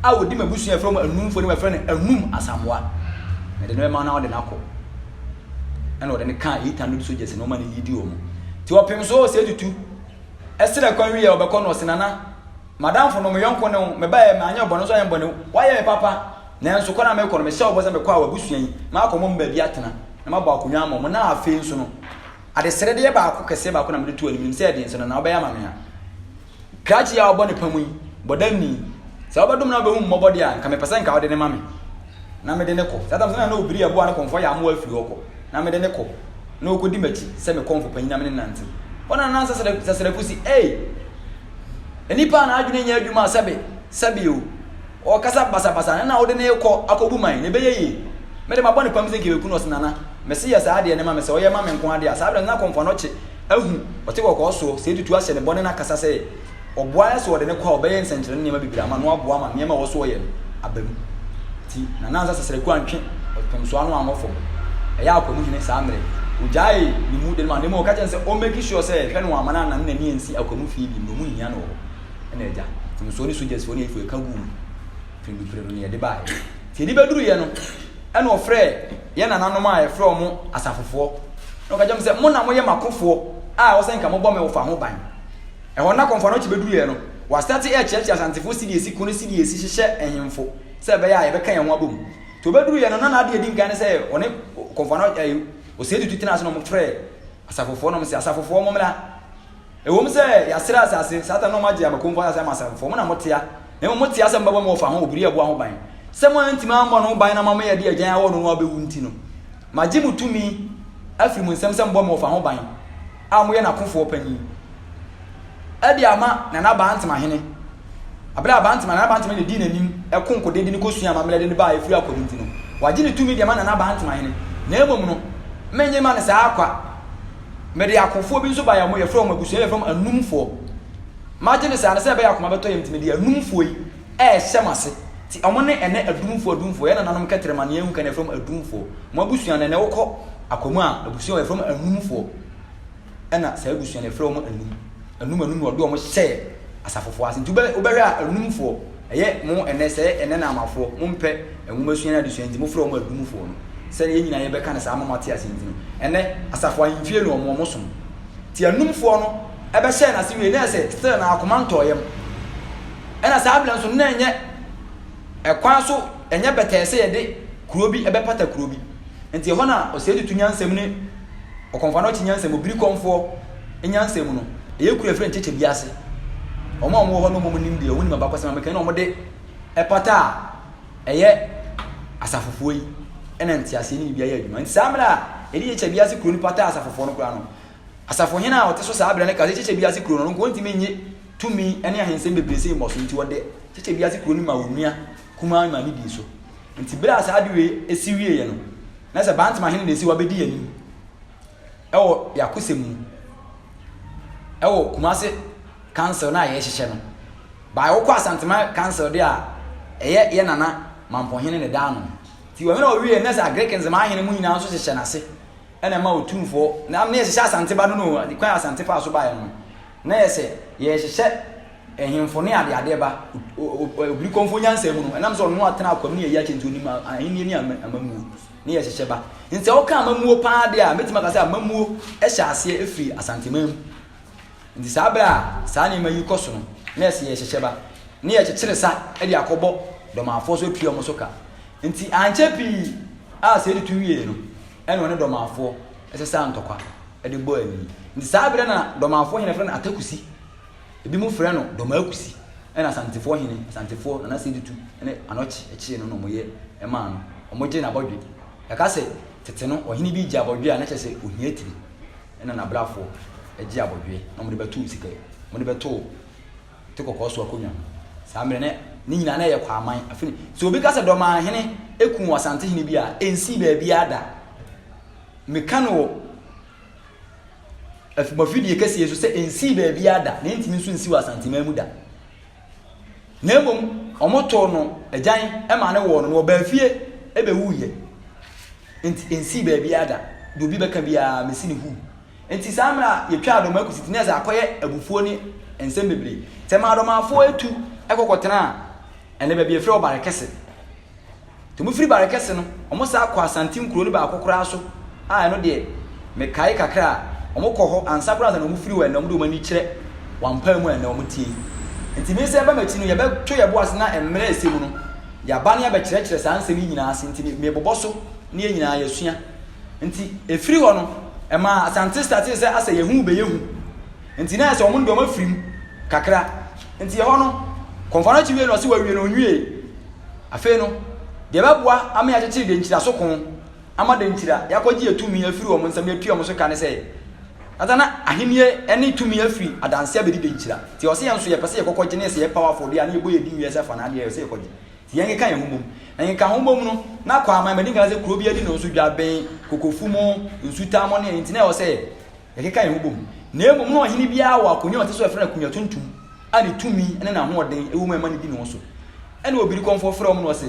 a ɔdi m'abusua a yɛfrɛ wɔn Anumfoɔ anim a yɛfrɛ no Anum Asamoah. Mede no bɛma no na ɔde no akɔ. Ɛna ɔde no kaa eight hundred soldiers na ɔma no leadi wɔn. Nti ɔpem so sɛ tutu. Ɛserɛ kwan wie a ɔbɛkɔ no ɔse Nana madamfo no meyɔnko ne wo mebaeɛ manyɛ wo bɔne nso ayɛ bɔne wayɛ me papa nanso kwan a mekɔ no mehyɛ wo bɔ sɛ mekɔ a w'abusua yi makɔ mo mu baabi atena na mabɔ akonnwa ama mo na afei nso no adeseredeɛ baako kɛseɛ baako na mede to anim nim sɛ ɛdeɛ nso Nana wobɛyɛ ama me a krakye yi a ɔbɔ ne pa mu yi bɔdamni sɛ wobɛdom na wobɛhu mmɔbɔ deɛ a nka mepɛ sɛ nka wode ne ma me na mede no kɔ. Saa tam so na na obiri aboa no kɔmfo ayɛ amoa afiri hɔ kɔ, na mede no kɔ, na okodi m'akyi sɛ me kɔmfo panyin na me ne no nantew. Hɔ na na Sasaraku si, Ei! Nnipa a n'adwene nyɛ adwuma a sɛbe, sɛbe o, ɔkasa basabasa no na wode no rekɔ akobu man, na ɛbɛyɛ yie? Mede mabɔ no pam sɛ nka yɛbɛku no, ɔse, Nana, mese yɛ saa adeɛ no ma me, sɛ ɔyɛ ma me nko ara deɛ a. Saa berɛ no na kɔmfo a na ɔkye ahu, ɔte kɔkɔɔ soɔ, sɛ ɛtutu ahyɛ ne bɔne na akasa sɛ, Ɔboa no sɛ ɔde no kɔ a ɔbɛyɛ nsɛnkyerɛnne nneɛma bebree ama no aboa ama nneɛma a ɛwɔ so ɔyɛ no aba mu. Nti na Nansa Sesrɛku antwe ɔpemsoa no ankɔ fam. Ɛyɛ a Kwamu Hene saa mmerɛ ɔgyaee ne mu de no maa no na mmom ɔka kyerɛɛ no sɛ ɔmmɛki sure sɛ hwɛ no wamma no anane n'ani ansi Akwamu fie bio na ɔmu nhia no wɔ hɔ. Ɛna agya, pemsoɔ ne sogyasfoɔ ne ayifoɔ ɛka guu mu pirimpirim na yɛde baeɛ. Nti ɛde bɛduruiɛ no ɛna ɔfrɛɛ yɛn nananom a yɛfrɛ wɔn asafofoɔ na ɔka kyerɛɛ wɔn sɛ mo na moyɛ m'akofoɔ a ɛwɔ sɛ nka mobɔ me ɔfa ho ban. Ɛhɔ no na kɔmfoɔ no kye bɛduruiɛ no, wɔastate rekyerɛkyerɛ Asantefoɔ sidi a ɛsi ko ne sidi a ɛsi hyehyɛ nhemfo sɛ ɛbɛyɛ a yɛbɛka yɛn ho abɔ mu. Nti ɔbɛduruiɛ no, na n'adeɛ a ɛdi nkan ne sɛ ɔne kɔmfoɔ no ɛɛ ɔsɛe tutu tenaa ase na wɔfrɛɛ asafofoɔ na wɔn sɛ asafofoɔ mo mmra. Ɛwom sɛ yɛasrɛ asase Satan na wɔn agye ama kɔmfoɔ asase ama asafofoɔ mo na motea na mmom motea sɛ mobɛbɔ mo ɔfa ho obiri ɛboa ho ban sɛ moantumi ammɔ no ho ban na moama yɛde agyan awɔ no no abɛwu nti no magye mo tumi afiri mo nsam sɛ mobɔ me ɔfa ho ban. a wɔyɛ n'akofoɔ panin de ama Nana Bantama hene. Abere a Bantama, Nana Bantama na ɛdii n'anim ɛko nkɔdɛ de ne kɔsua amammerɛ de ne baa ɛfiri akɔdɛ nti no, wagye ne tumi de ama Nana Bantama hene. Na mmom no, mennye ma no saa kwa. Mede akofoɔ bi nso baeɛ a wɔyɛ frɛ wɔn abusua yɛ frɛ wɔn anumfoɔ. Magye no saa no sɛ ɛbɛyɛ akoma bɛtɔ yam nti mede anumfoɔ yi Ɛhyɛ mo ase. Ti ɔmo ne ɛnɛ adumfoɔ adumfoɔ yɛ nananom kɛterɛ ma nea ehu kɛ na yɛfrɛ mo adumfoɔ mo abusua no ɛnɛ wokɔ akɔmu a abusua wɔ yɛfrɛ mo anumfoɔ ɛna saa abusua no yɛfrɛ wɔn anum anum anum na ɔde wɔn hyɛɛ asafofoɔ ase nti wobɛ wobɛhwɛ a anumfoɔ ɛyɛ mo ɛnɛ sɛ ɛnɛ na amafoɔ mo mpɛ nwoma sua ne adesua nti mofrɛ wɔn adumfoɔ no sɛdeɛ yɛn nyinaa yɛbɛka no saa ama mo ate ase nti no ɛnɛ asafo ahemfie no wɔn wɔn som ti anumfoɔ no ɛbɛhyɛɛ n'ase wie ne ɛsɛ still na akoma ntɔɔ yam Ɛna saa berɛ nso na ɛnyɛ ɛkwan so ɛnyɛ bɛtɛɛ sɛ yɛde kuro bi ɛbɛpata kuro bi nti ɛhɔ na ɔsɛe tutu nyansɛm ne ɔkɔmfa no ɔkye nyansɛm obiri kɔmfoɔ nyansɛm no ɛyɛ kuro ɛfiri nkyekyɛ bi ase wɔn a wɔn wɔ hɔ no wɔn nim deɛ wɔn nim abakɔsɛm amekɛ na wɔn de ɛpata a ɛyɛ asafofoɔ yi ɛna nteaseɛ ne biribi ayɛ adwuma nti saa mmerɛ a ɛde yɛkyɛ bi ase kuro no pata asafofoɔ no koraa no Asafohene a ɔte so saa bere no ka sɛ Kyekyɛ Bi Ase Kurow no, ɔno nko ontumi nnye tumi ne ahensɛm bebree sɛ mmɔso, enti ɔde Kyekyɛ Bi Ase Kurow no maa onua kumaa maa ne dii so. Enti bere a saa ade wei si wieeɛ no, na sɛ Bantam ahene na esi hɔ abedi yɛn anim wɔ yɛn akosɛm mu wɔ Kumasi Council no a yɛrehyehyɛ no. Bae wokɔ Asantema Council de a, ɛyɛ yɛn nana Mampohene na ɛda ano. Enti wɔn na wɔwieeɛ no, na sɛ Agric Nzema ahene mu nyinaa nso hyehyɛ n'ase. ɛna ɛma Otumfoɔ na ama yɛhyehyɛ Asante ba no no o, kwan a Asante faa so baeɛ no no, na yɛ sɛ yɛrehyehyɛ ahemfo ne adeadeɛ ba, Obirikɔmfoɔ nyansa mu no, ɛnam sɛ ɔno atena akwam ne yɛyi akyɛ nti ɔnim ahennie ne amammuo ne yɛhyehyɛ ba. Nti sɛ woka amammuo paa deɛ a, mɛtumi aka sɛ amammuo hyɛ aseɛ firi Asanteman mu. Nti saa berɛ a saa nneɛma yi kɔ so no, na yɛ sɛ yɛhyehyɛ ba, ne yɛkyekyere sa de akɔbɔ Dɔmafoɔ so atua wɔn so ka. Nti ankyɛ pii, A sɛ editu wiei no, ɛnna ɔne Dɔmafo sesaa ntɔkwa de bɔɔ ani. Nti saa bere na Dɔmafo hene frɛ no Atakusi. Ebinom frɛ no Dɔmakusi. Ɛnna Asantefo hene, Asantefo na na sɛ editu ne Anɔkye kyee no na wɔyɛ maa no, wɔgye n'abɔdwe. Yɛka sɛ tete no ɔhene bi gye abɔdwe a na kyerɛ sɛ ohiatiri na n'abrafo gye abɔdwe na wɔde bɛtoo sika wɔde bɛtoo Te kɔkɔɔ so akonnwa ho. Saa mmerɛ no, ne nyinaa na ɛyɛ Kwaaman. Afei, sɛ obi ka sɛ Dɔmanhene kum Ɔsantehene bi a, ɛnsii baabiara da. Meka no wɔ afumafidie kɛseɛ so sɛ ɛnsii baabiara da, na ɛntumi nso nsi wɔ Asanteman mu da. Na mmom, wɔtoo no agyan maa no wɔɔ no, na ɔbaa fie bɛwuiɛ. Nti ɛnsii baabiara da. Deɛ obi bɛka biara, mɛsi no huu. Enti saa mmerɛ a yɛtwaa Adomaa kɔsi Teneas a akɔyɛ abufuo ne nsɛm bebree. Sɛ ɛmaa Adomaafoɔ atu kɔ kɔtenaa ɛnɛ baabi a yɛfrɛ hɔ Barekɛse. Nti wɔfiri Barekɛse no, wɔsan kɔɔ Asanten kuro no baako koraa so a ɛno deɛ mekae kakra a wɔkɔ hɔ ansa koraa ansa na wɔfiri hɔ ɛnna wɔde wɔn ani kyerɛ wɔampae mu ɛnna wɔtie. Enti me sɛ ɛba m'akyi no yɛbɛto yɛn bo ase na mmerɛ a ɛsɛ mu no yɛaba na yɛabɛkyerɛkyerɛ saa nsɛm yi nyinaa ase nti mebobɔ so na yɛn nyinaa yɛasua. Nti ɛfiri hɔ no, ɛmaa Asante statee sɛ asɛ yɛn ho bɛyɛ hu. Nti na ayɛ sɛ wɔn de wɔn afiri mu kakra. Nti ɛhɔ no, kɔmfoɔ no akyi wie no ɔse wawie no ɔnwie. Afei no, deɛ ɛbɛboa ama yɛakyekyere Denkyira so ko ama Denkyira yɛakɔgye yɛn tumi afiri wɔn nsam na yɛatua wɔn so ka ne sɛ, na na ahennie ne tumi afiri Adanse abɛdi Denkyira. Nti ɔse yɛn nso yɛpɛ sɛ yɛkɔkɔgye ne yɛ sɛ yɛpaw afɔdeɛ a na yɛbɔ yɛn din wie sɛ fa no adeɛ yɛpɛ sɛ yɛkɔgye. Yɛnkeka yɛn ho mmom. Na yɛnka ho mmom no, na Kwaman Madi nka sɛ kuro bi adi no nso dwa bɛn Kokofu mu, Nsutaa mu, ne a enti na ɛwɔ sɛ yɛkeka yɛn ho bom. Na mmom na ɔhene biara wɔ akonnwa a ɔte so a wɔfrɛ no akonnwa tuntum a ne tumi ne n'ahoɔden wɔ mu a ɛma no di ne ho so. Ɛnna obirikɔmfoɔ frɛ wɔn na ɔse,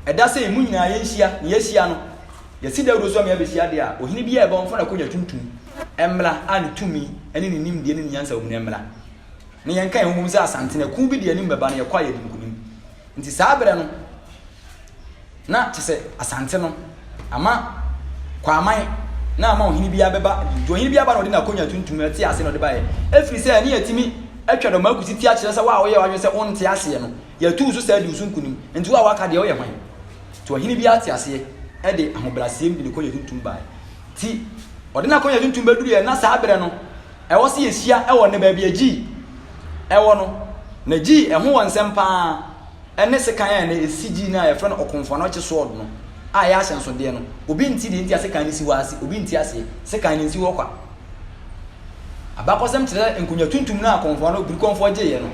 Ɛda sei, mo nyinaa yɛnhyia, na yɛahyia no, yɛasi dawuro so ama yɛabɛhyia deɛ a ɔhene biara a ɛbɛwɔ no, wɔmfa no akonnwa tuntum mmra, a ne tumi ne ne nimdeɛ ne ne nyansa wɔ mu no mmra. na yɛnka yɛn ho sɛ asantene ɛko bi de anim bɛba no yɛkɔ a yɛde nkunim nti saa berɛ no na kyɛ sɛ asante no ama kwaman na ama ɔhene bi abɛba nti ɔhene bi aba na ɔde n'akonya tuntum no ɛte ase na ɔde baeɛ ɛfiri sɛ ɛne yɛtumi atwa dɔm akusi ti akyerɛ sɛ wo a woyɛ wadwene sɛ wonte aseɛ no yɛtu so sɛ adi wo so nkunim nti wo a waka deɛ woyɛ hwan nti ɔhene bi ate aseɛ ɛde ahobrɛaseɛm de ne konya tuntum baeɛ nti ɔde n'akonya tuntum bɛduru yɛ na saa berɛ no Ɛwɔ sɛ yɛhyia wɔ nnɛ baabi a Gyi wɔ no, na Gyi ho wɔ nsɛm pa ara ne sekan a ɛnnɛ ɛsi Gyi no a yɛfrɛ no Okomfo-Anokye Sword no a ɛyɛ ahyɛnsodeɛ no. Obi nte deɛ nti a sekan no si hɔ ase, obi nte aseɛ. Sekan no nsi hɔ kwa. Abakɔsɛm kyerɛ sɛ nkonwa tuntum no a Komfoa no Birikɔmfoɔ gyeeɛ no,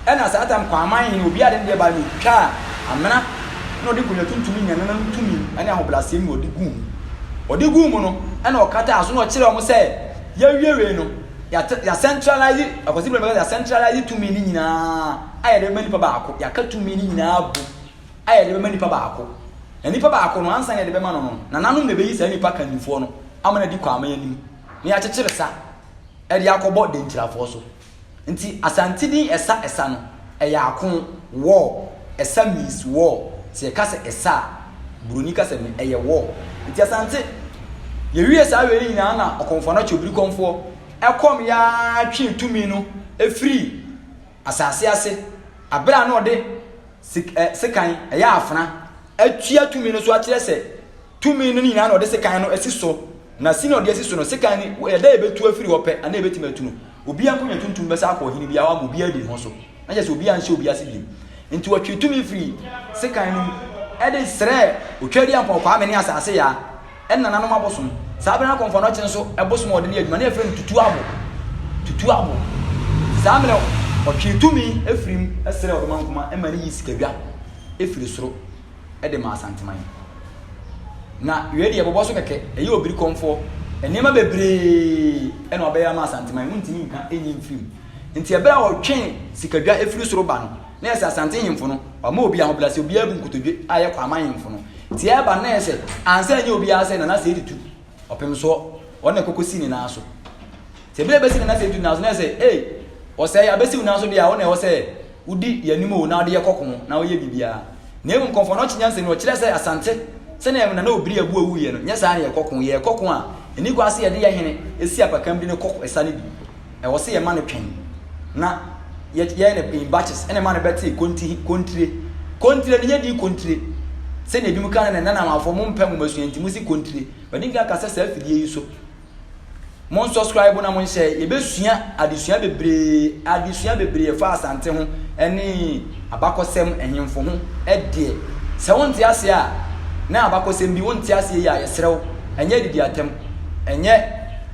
ɛna saa tam Kwaman hene obiara de ne deɛ baeɛ no ɔtwaa amena na ɔde nkonwa tuntum nya nana no tumi ne ahobrɛaseɛ mu na ɔde guu mu. Ɔde guu mu no, ɛna ɔkataa so na ɔkyerɛɛ wɔn sɛ, Yɛawiawiei no, yɛate, yɛasɛntralaase, akwasi berɛ no bɛka sɛ yɛasɛntralaase tumi no nyinaa a yɛde bɛma nipa baako, yɛaka tumi no nyinaa agu a yɛde bɛma nipa baako. Na nipa baako no, ansa na yɛde bɛma no no, nananom na ɛbɛyi saa nipa kannifoɔ no ama no adi Kwame anim, na yɛakyekyere sa de akɔbɔ Dankyirafoɔ so. Nti Asante din Esa Esa no, ɛyɛ ako, war. Esa means war. Sɛ yɛka sɛ Esa a, Buroni kasa mu no, ɛyɛ war. Nti Asante, yɛwie saa wei nyinaa na Ɔkɔmfoɔ-Anakye Obirikɔmfoɔ ɛkɔm yɛ ara twee tumi no firii asase ase berɛ a na ɔde sekan, ɛyɛ afena, atua tumi no so akyerɛ sɛ tumi no nyinaa na ɔde sekan no asi so, na sini a ɔde asi so no, sekan no, ɛda a ɛbɛtu afiri hɔ pɛ, anaa ɛbɛtumi atu no, obiara nkonnwa tuntum bɛsa akɔ ɔhene biara hɔ ama obiara adi ne ho so, na kyerɛ sɛ obiara nhyɛ obiara ase bio. Enti wɔtwee tumi firii sekan no mu de srɛɛ Otwaadiampɔn Kwame ne Asase Yaa, ne nananom abosom. Saa bere no na Kɔmfoanɔkye nso bosom a wɔde ne adwuma, na yɛfrɛ no Tutu Abo, Tutu Abo. Saa mmerɛ no, wɔtwee tumi firii mu srɛɛ Ɔdomankoma ma ne yii sikadwa firii soro. de ma Asanteman. Na wei deɛ bɔbɔ so kɛkɛ, ɛyɛ obiri kɔmfoɔ. Nneɛma bebree na ɔbɛyɛ ama Asanteman, wontumi nka nyi mfiri mu. Nti ɛberɛ a ɔtwe sikadwa firi soro ba no, na yɛ sɛ Asante hemfo no, wama obi ahobrɛase, obiara abu nkotodwe a yɛ Kwaaman hemfo no. Nti ɛreba no na yɛ sɛ, ansa ɛnyɛ obiara sɛ Nana Seidu Tu, Ɔpemsoɔ, ɔno na ɛkɔkɔsi ne nan so. Sɛ bere besi na n'asɛm tu nanso na ɛsɛ sɛ, ei, ɔsɛe, abesiw nanso de a, wo na ɛwɔ sɛ wudi yɛn anim o, na wode yɛ kɔ ko na woyɛ biribiara. Na mmom kɔmfo no ɔkye nyansa ni, ɔkyerɛ sɛ Asante, sɛnea ɛwom na na obiri abu awu yɛ no, nyɛ saa na yɛkɔ ko, yɛkɔ ko a, enni kwan sɛ yɛde yɛn hene si apakan bi no kɔ ɛsa no bi. Ɛwɔ sɛ yɛma no twɛn na yɛyɛ no in batches na ɛma no bɛte konti, kontire, kontire no nyɛ di kontire sɛnea ebinom ka no nnɛ, nnɛ na amanfoɔ mompɛ nwomasua nti mosi kontire. Madi nkan aka sɛ saa afidie yi so Mon subscribe na mon hyɛ yɛbɛsua adesua bebree adesua bebree ɛfa asante ho ɛne abakɔsɛm ɛhemfo ho ɛdeɛ sɛ wonte aseɛ a na abakɔsɛm bi wonte aseɛ yi a yɛsrɛ wo ɛnyɛ didi atɛm ɛnyɛ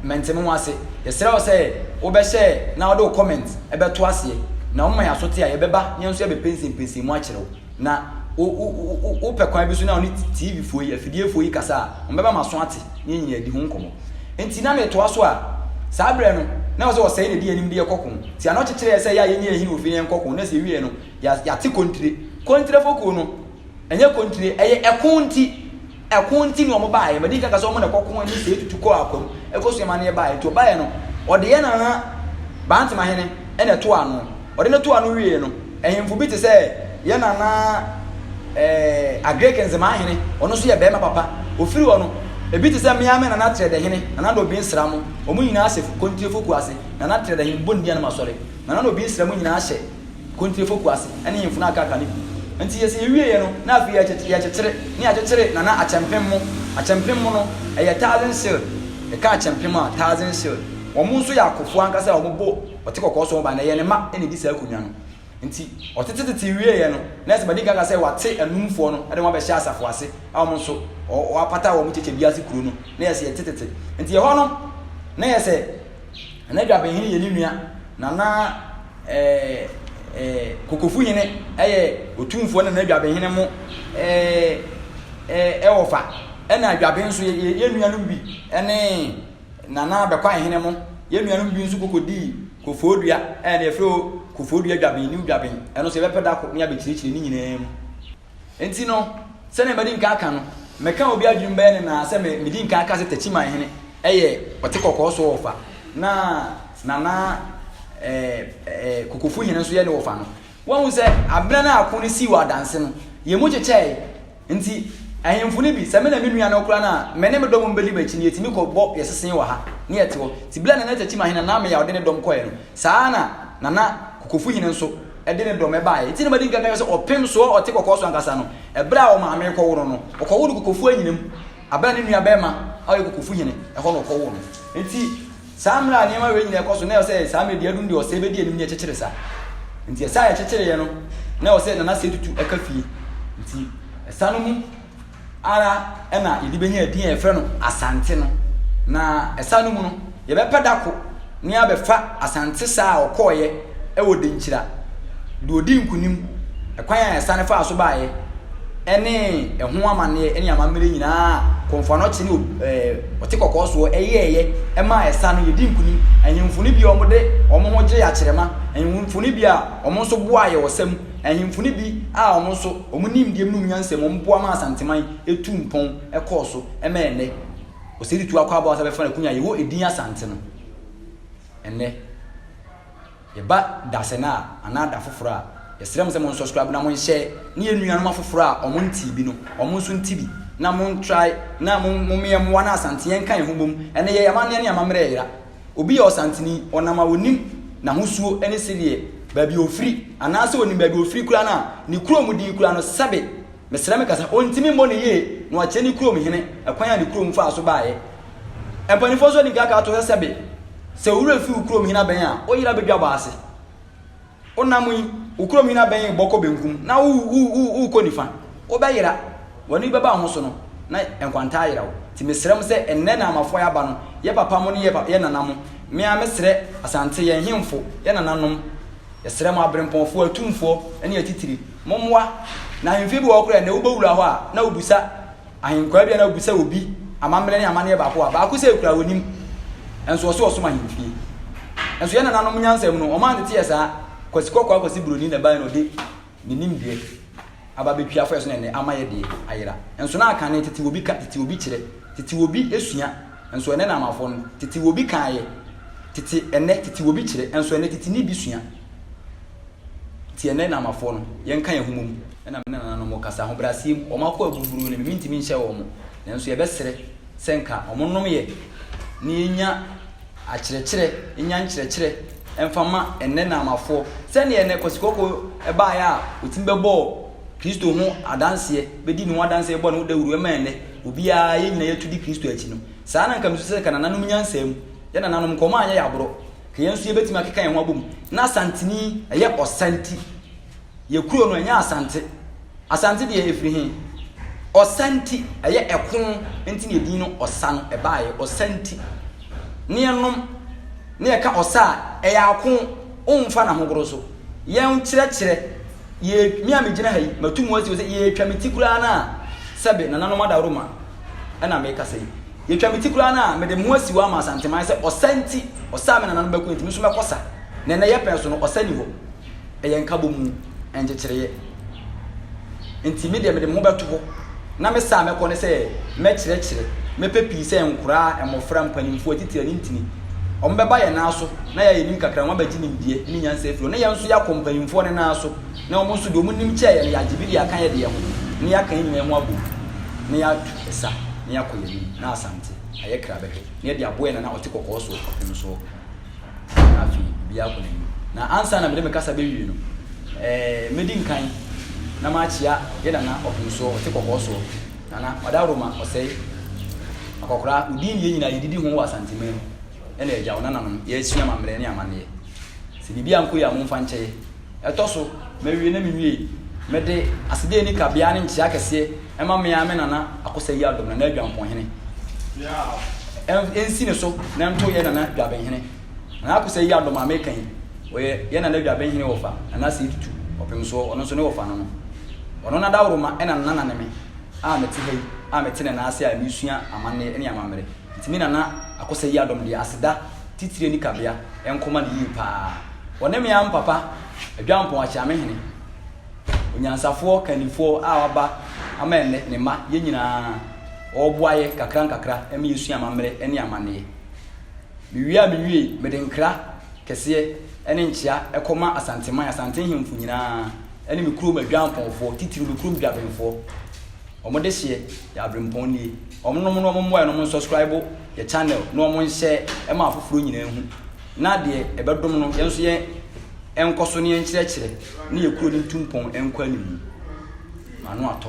mɛnte me ho ase yɛsrɛ wo sɛ wobɛhyɛ na wode wo comment ɛbɛto aseɛ na woma yɛ asote a yɛbɛba yɛn nso yɛbɛpɛnsɛmpɛnsɛn mu akyerɛ wo Na wo wo wo wopɛ kwan bi so na ɔne TV foɔ yi afidie foɔ yi kasa a, wɔn bɛba ma so ate ne yɛn nyinaa di ho nkɔmɔ. Nti na metoa so a, saa berɛ no, na ɛwɔ sɛ ɔsɛe na ɛdi yɛn anim de yɛ kɔ ko. Nti ano kyekyere yɛn sɛ yɛ a yɛnyɛ yɛn hene ofie na yɛn kɔ ko, na sɛ yɛ wie no, yɛ yɛate kontire. Kontire fokuo no, ɛnyɛ kontire, ɛyɛ ɛko nti. Ɛko nti na wɔn baeɛ. Madi nka ka sɛ wɔn na ɛkɔ ko ne sɛ etutu kɔɔ akwam ɛkɔ sua amaneɛ baeɛ. Nti ɔbaeɛ no ɔde yɛn nana Bantama hene na ɛtoo ano. Ɔde no too ano wieɛ no ahemfo bi te sɛ yɛn nana ɛɛ Agric Nzemaa hene ɔno nso yɛ barima papa. Ɔfiri hɔ no ebi te sɛ me ara me nana Trɛdɛ hene, Nana Nobin Nsramo wɔn nyinaa hyɛ Kontiefo kuo ase. Nana Trɛdɛ hene Bondianom asɔre, Nana Nobin Nsramo nyinaa hyɛ. Kontirefo Kwasi ne mfunu a akaaka no bi nti yɛ sɛ yɛwieɛ no na afei yɛkyekyere ne yɛakyekyere Nana akyɛmpem mo akyɛmpem mo no ɛyɛ thousand cere yɛka akyɛmpem a thousand cere wɔn nso yɛ akofoɔ ankasa a wɔn bɔ ɔte kɔkɔɔ so wɔn ba na ɛyɛ ne mma na ɛdi saa akonwa no nti ɔtetetete wieɛ no na ɛsɛ madi nka aka sɛ wɔate anumfoɔ no de wɔn abɛhyɛ asafo ase a wɔn nso wɔapata wɔn kyekyɛ bi ase kuro no na yɛ sɛ yɛtetetete nti ɛhɔ no na yɛ sɛ. Na Dwabenhene yɛ ne nua, na na Kokofuhene yɛ Otumfoɔ na na Dwabenhene mo wɔfa. Ɛna Dwaben nso yɛ nuanom bi ne Nana Bɛkwaehene mo, yɛ nuanom bi nso kɔkɔdii Kofoɔdua, ɛna yɛfrɛ o Kofoɔdua Dwaben, New Dwaben. Ɛno nso yɛbɛpɛ da koro ne abɛkyerɛkyerɛ ne nyinaa mu. Enti no, sɛnea madi nka aka no, meka a obi adwenem bɛyɛ no naa sɛ medi nka aka sɛ Takyiman hene yɛ ɔte kɔkɔɔ so wɔfa na Nana Kokofu hene nso yɛ ne wɔfa no. Woahu sɛ abena no a ako no sii wɔ adanse no, yɛn mu kyekyɛe. Enti ahemfo no bi, sɛ me na me nua no koraa no a, me ne me dɔm a wɔbɛdi m'akyi no, yɛtumi kɔbɔ yɛn sesee wɔ ha na yɛte hɔ. Enti bere a Nana Takyiman hene, Nana Ameyaw de ne dɔm kɔe no, Saa ara na Nana Kokofuhene nso de ne dɔm baeɛ. Enti na madi nkan ka kyerɛ sɛ ɔpem soɔ ɔte kɔkɔɔ so ankasa no, ɛberɛ a ɔmaame rekɔwo no no, ɔkɔwoo no Kokofuo anyina mu, aberɛ a ne nua barima a ɔyɛ Kokofuhene, ɛhɔ na ɔkɔwoo no. Enti saa mmerɛ a nneɛma wei nyina ɛkɔ so, na ɛwɔ sɛ saa mmerɛ Diadum deɛ ɔsɛe bɛdi anim ne ɛkyekyere saa. Enti ɛsɛ a ɛkyekyereeɛ no, na ɛwɔ sɛ Nana Setutu ka fie. Enti ɛsa no mu. ara na yɛde bɛnya edin a yɛfrɛ no Asante no. Na ɛsa no mu no, yɛbɛpɛ da ko ne abɛfa Asante sa a ɔkɔɔeɛ wɔ Denkyira, deɛ ɔdii nkonim, ɛkwan a ɛsa no faa so baeɛ, ne ɛho amanneɛ ne amammerɛ nyinaa a Kɔmfoanɔkye ne Ɔte Kɔkɔɔ soɔ yɛɛeɛ maa ɛsa no. Yɛdi nkonim ahemfo no bi a wɔde wɔn ho gyee akyerɛma, ahemfo no bi a wɔn nso boaa yɛn ɔsa mu. Ahemfo no bi a wɔn nso wɔn nimdeɛ mu ne wɔn nyansa mu wɔboa maa Asanteman tuu mpɔn kɔɔ so ma ɛnnɛ Osei Tutu Akwaa Bonsah bɛfa no akunya a yɛwɔ edin Asante no. Ɛnnɛ, yɛba dasɛn a anaa da foforɔ a, yɛsrɛ mo sɛ mo nsɔskraibe na mo nhyɛ ne yɛn nuanom afoforɔ a wɔn ntee bi no, wɔn nso nte bi na mo ntrae na mo mmea mmoa na Asante yɛnka yɛn ho mmom. Ɛnnɛ yɛyɛ amanneɛ ne amammerɛ yera. Obi yɛ ɔsanteni, ɔnam a onim n'ahosuo ne sedeɛ, baabi a ofiri, anaasɛ onim baabi a ofiri koraa no a, ne kurom din koraa no, sɛbe, mesrɛ me kasa, ontumi mmɔ no yie na wakyerɛ ne kurom hene ɛkwan a ne kurom faa so baeɛ. Mpaninfoɔ nso adi nka aka ato hɔ sɛbe, sɛ wo werɛ firi wo kurom hene abɛn a, wo yere abɛdwa bɔ ase. Wonam yi, wo kurom hene abɛn rebɔ kɔ benkum, na wo, wo, wo, worekɔ nifa. Wobɛyera. W'ani bɛba wo ho so no, na nkwanta ayera wo. Nti mesrɛ mo sɛ, nnɛ na Amafo a yɛaba no, yɛn papa mo ne yɛn pa, yɛn nana mo, me ara mesrɛ Asante, yɛn hemfo, yɛn nananom, yɛsrɛ mo aberempɔnfoɔ, atumfoɔ, ne atitire, mommoa. Na ahemfie bi wɔ hɔ koraa a, nnɛ wobɛwura hɔ a, na wobisa, Ahenkwaa bi a na wobisa obi amammerɛ ne amanneɛ baako a baako sɛ kura wɔnim, nso ɔse ɔsom ahemfie. Nso yɛn nananom nyansam no, wɔn anteteɛ saa, Kwasi Kɔkɔɔ Akwasi Buroni na ɛbaeɛ na ɔde ne nimdeɛ aba bɛtwi afa yɛn so na ɛnnɛ ama yɛn deɛ ayera. Nso na kane tete obi ka, tete obi kyerɛ, tete obi sua, nso ɛnnɛ na amafoɔ no, tete obi kaeɛ, tete ɛnnɛ, tete obi kyerɛ, nso ɛnnɛ tete ni bi sua. Nti yɛnnɛ Namafoɔ no, yɛnka yɛn ho mmom na me ne nananom nkasa. Ahobrɛaseɛ mu, wɔn akoa aburuburoo no me, mentumi nhyɛ wɔn. Nanso yɛbɛsrɛ sɛ nka wɔnnom yɛ na yɛnya akyerɛkyerɛ, yɛnya nkyerɛkyerɛ mfa mma ɛnnɛ Namafoɔ. Sɛdeɛ ɛnnɛ Kwasi Kɔkɔɔ baeɛ a ɔtumi bɛbɔɔ Kristo ho adanseɛ, bɛdii ne ho adanseɛ, bɛbɔɔ ne ho dawuro, ɛma ɛnnɛ obiara, yɛn nyinaa yɛatu di Kristo akyi no, saa na nka mesusu sɛ nka nananom nyansa mu, yɛn nananom nka wɔanyɛ yɛn aborɔ. Yɛn nso yɛbɛtumi akeka yɛn ho abom. Na Asanteni yɛ Ɔsanti. Yɛ kuro no ɛnyɛ Asante. Asante deɛ ɛfiri he? Ɔsanti ɛyɛ ɛko nti na ɛdin no ɔsa no ɛbaeɛ. Ɔsanti. Ne yɛnom ne yɛka ɔsa a ɛyɛ ako womfa na hogoro so. Yɛn kyerɛkyerɛ yɛ me a megyina ha yi matu mu asi sɛ yɛtwa me ti koraa no a sɛbe nananom adaworoma ɛna mekasa yi. Yɛtwa me ti koraa no a, mede me ho asi hɔ ama Asanteman sɛ ɔsa nti, ɔsa a me nananom bɛko nti, me nso mɛkɔ sa. Na ɛnnɛ yɛpɛn so no, ɔsa nni hɔ. Ɛyɛ nkabɔmu, nkyekyereeɛ. Nti me deɛ mede me ho bɛto hɔ na me sa a mɛkɔ ne sɛ mɛkyerɛkyerɛ, mɛpɛ pii sɛ nkoraa, mmɔfra, mpanimfoɔ, atitire, anintini. Wɔbɛba yɛn nan so na yɛ a yɛnim kakra no, wɔabɛgye nimdeɛ ne nyansa afiri hɔ na yɛn nso yɛakɔ mpanimfoɔ no nan so na wɔn nso deɛ wɔnim kyɛɛ yɛn no, yɛagye bi de aka yɛdeɛ ho na yɛaka yɛn nyinaa ho abom na yɛatu. Ɛsa na yɛakɔ yɛn anim, na Asante ayɛ kra bɛhwɛ, na yɛde aboa yɛn nana a ɔte kɔkɔɔ so ɔpon soɔ. Na afei obiara akɔ n'anim. Na ansa na mede me kasa bɛwie no, ɛɛ, mɛdi nkan na makyea yɛn nana ɔpon soɔ ɔte kɔkɔɔ soɔ, Nana, Ɔdawuroma, Ɔsɛe, Akɔkora, wo din ne yɛn nyinaa yɛdidi ho wɔ Asanteman mu, ɛna yɛagya wo nananom, yɛresua amammerɛ ne amanneɛ. Sɛ biribi ankɔ yie a, momfa nkyɛ yɛn. Ɛtɔ so, mawie na menwiei. Mede aseda a enni kabea ne nkyia kɛseɛ ma me ara me Nana Akosa Yiadom, Nana Adwamponhene. Ɛnsi ne so na ɛnto yɛn Nana Dwabenhene. Nana Akosa Yiadom a meka yi, ɔyɛ yɛn Nana Dwabenhene wɔfa, Nana Asei Tutu, Ɔpemsoɔ, ɔno nso ne wɔfa no no. Ɔno na Dawuroma na ne Nana ne me a mete ha yi a mete ne nan ase a meresua amanneɛ ne amammerɛ. Nti me Nana Akosa Yiadom deɛ, aseda. titire ne kabea nko ma no yie pa ara. Wɔne me am papa Adwampɔn Akyeamehene, onyansafoɔ kannifoɔ a waba ama ɛnnɛ ne mma, yɛn nyinaa wɔreboa yɛ kakra nkakra ma yɛasua amammerɛ ne amanneɛ. Mewie a mewiei, mede nkra kɛseɛ ne nkyea kɔma Asanteman, Asante Nhemfo nyinaa ne me kurom Adwampɔnfoɔ, titire me kurom Dwabenfoɔ. Ɔmo deseɛ yɛ abrempɔn nie. Ɔmo nom na ɔmo mmoa yɛn na ɔmo nsɔskraibo yɛ channel na ɔmo nhyɛ ma afoforɔ nyinaa hu na deɛ ɛbɛdom no yɛn nso yɛn ɛnkɔso na yɛn nkyerɛkyerɛ na yɛ kuro no ntu mpɔn ɛnkɔ animu. M'ano atɔ.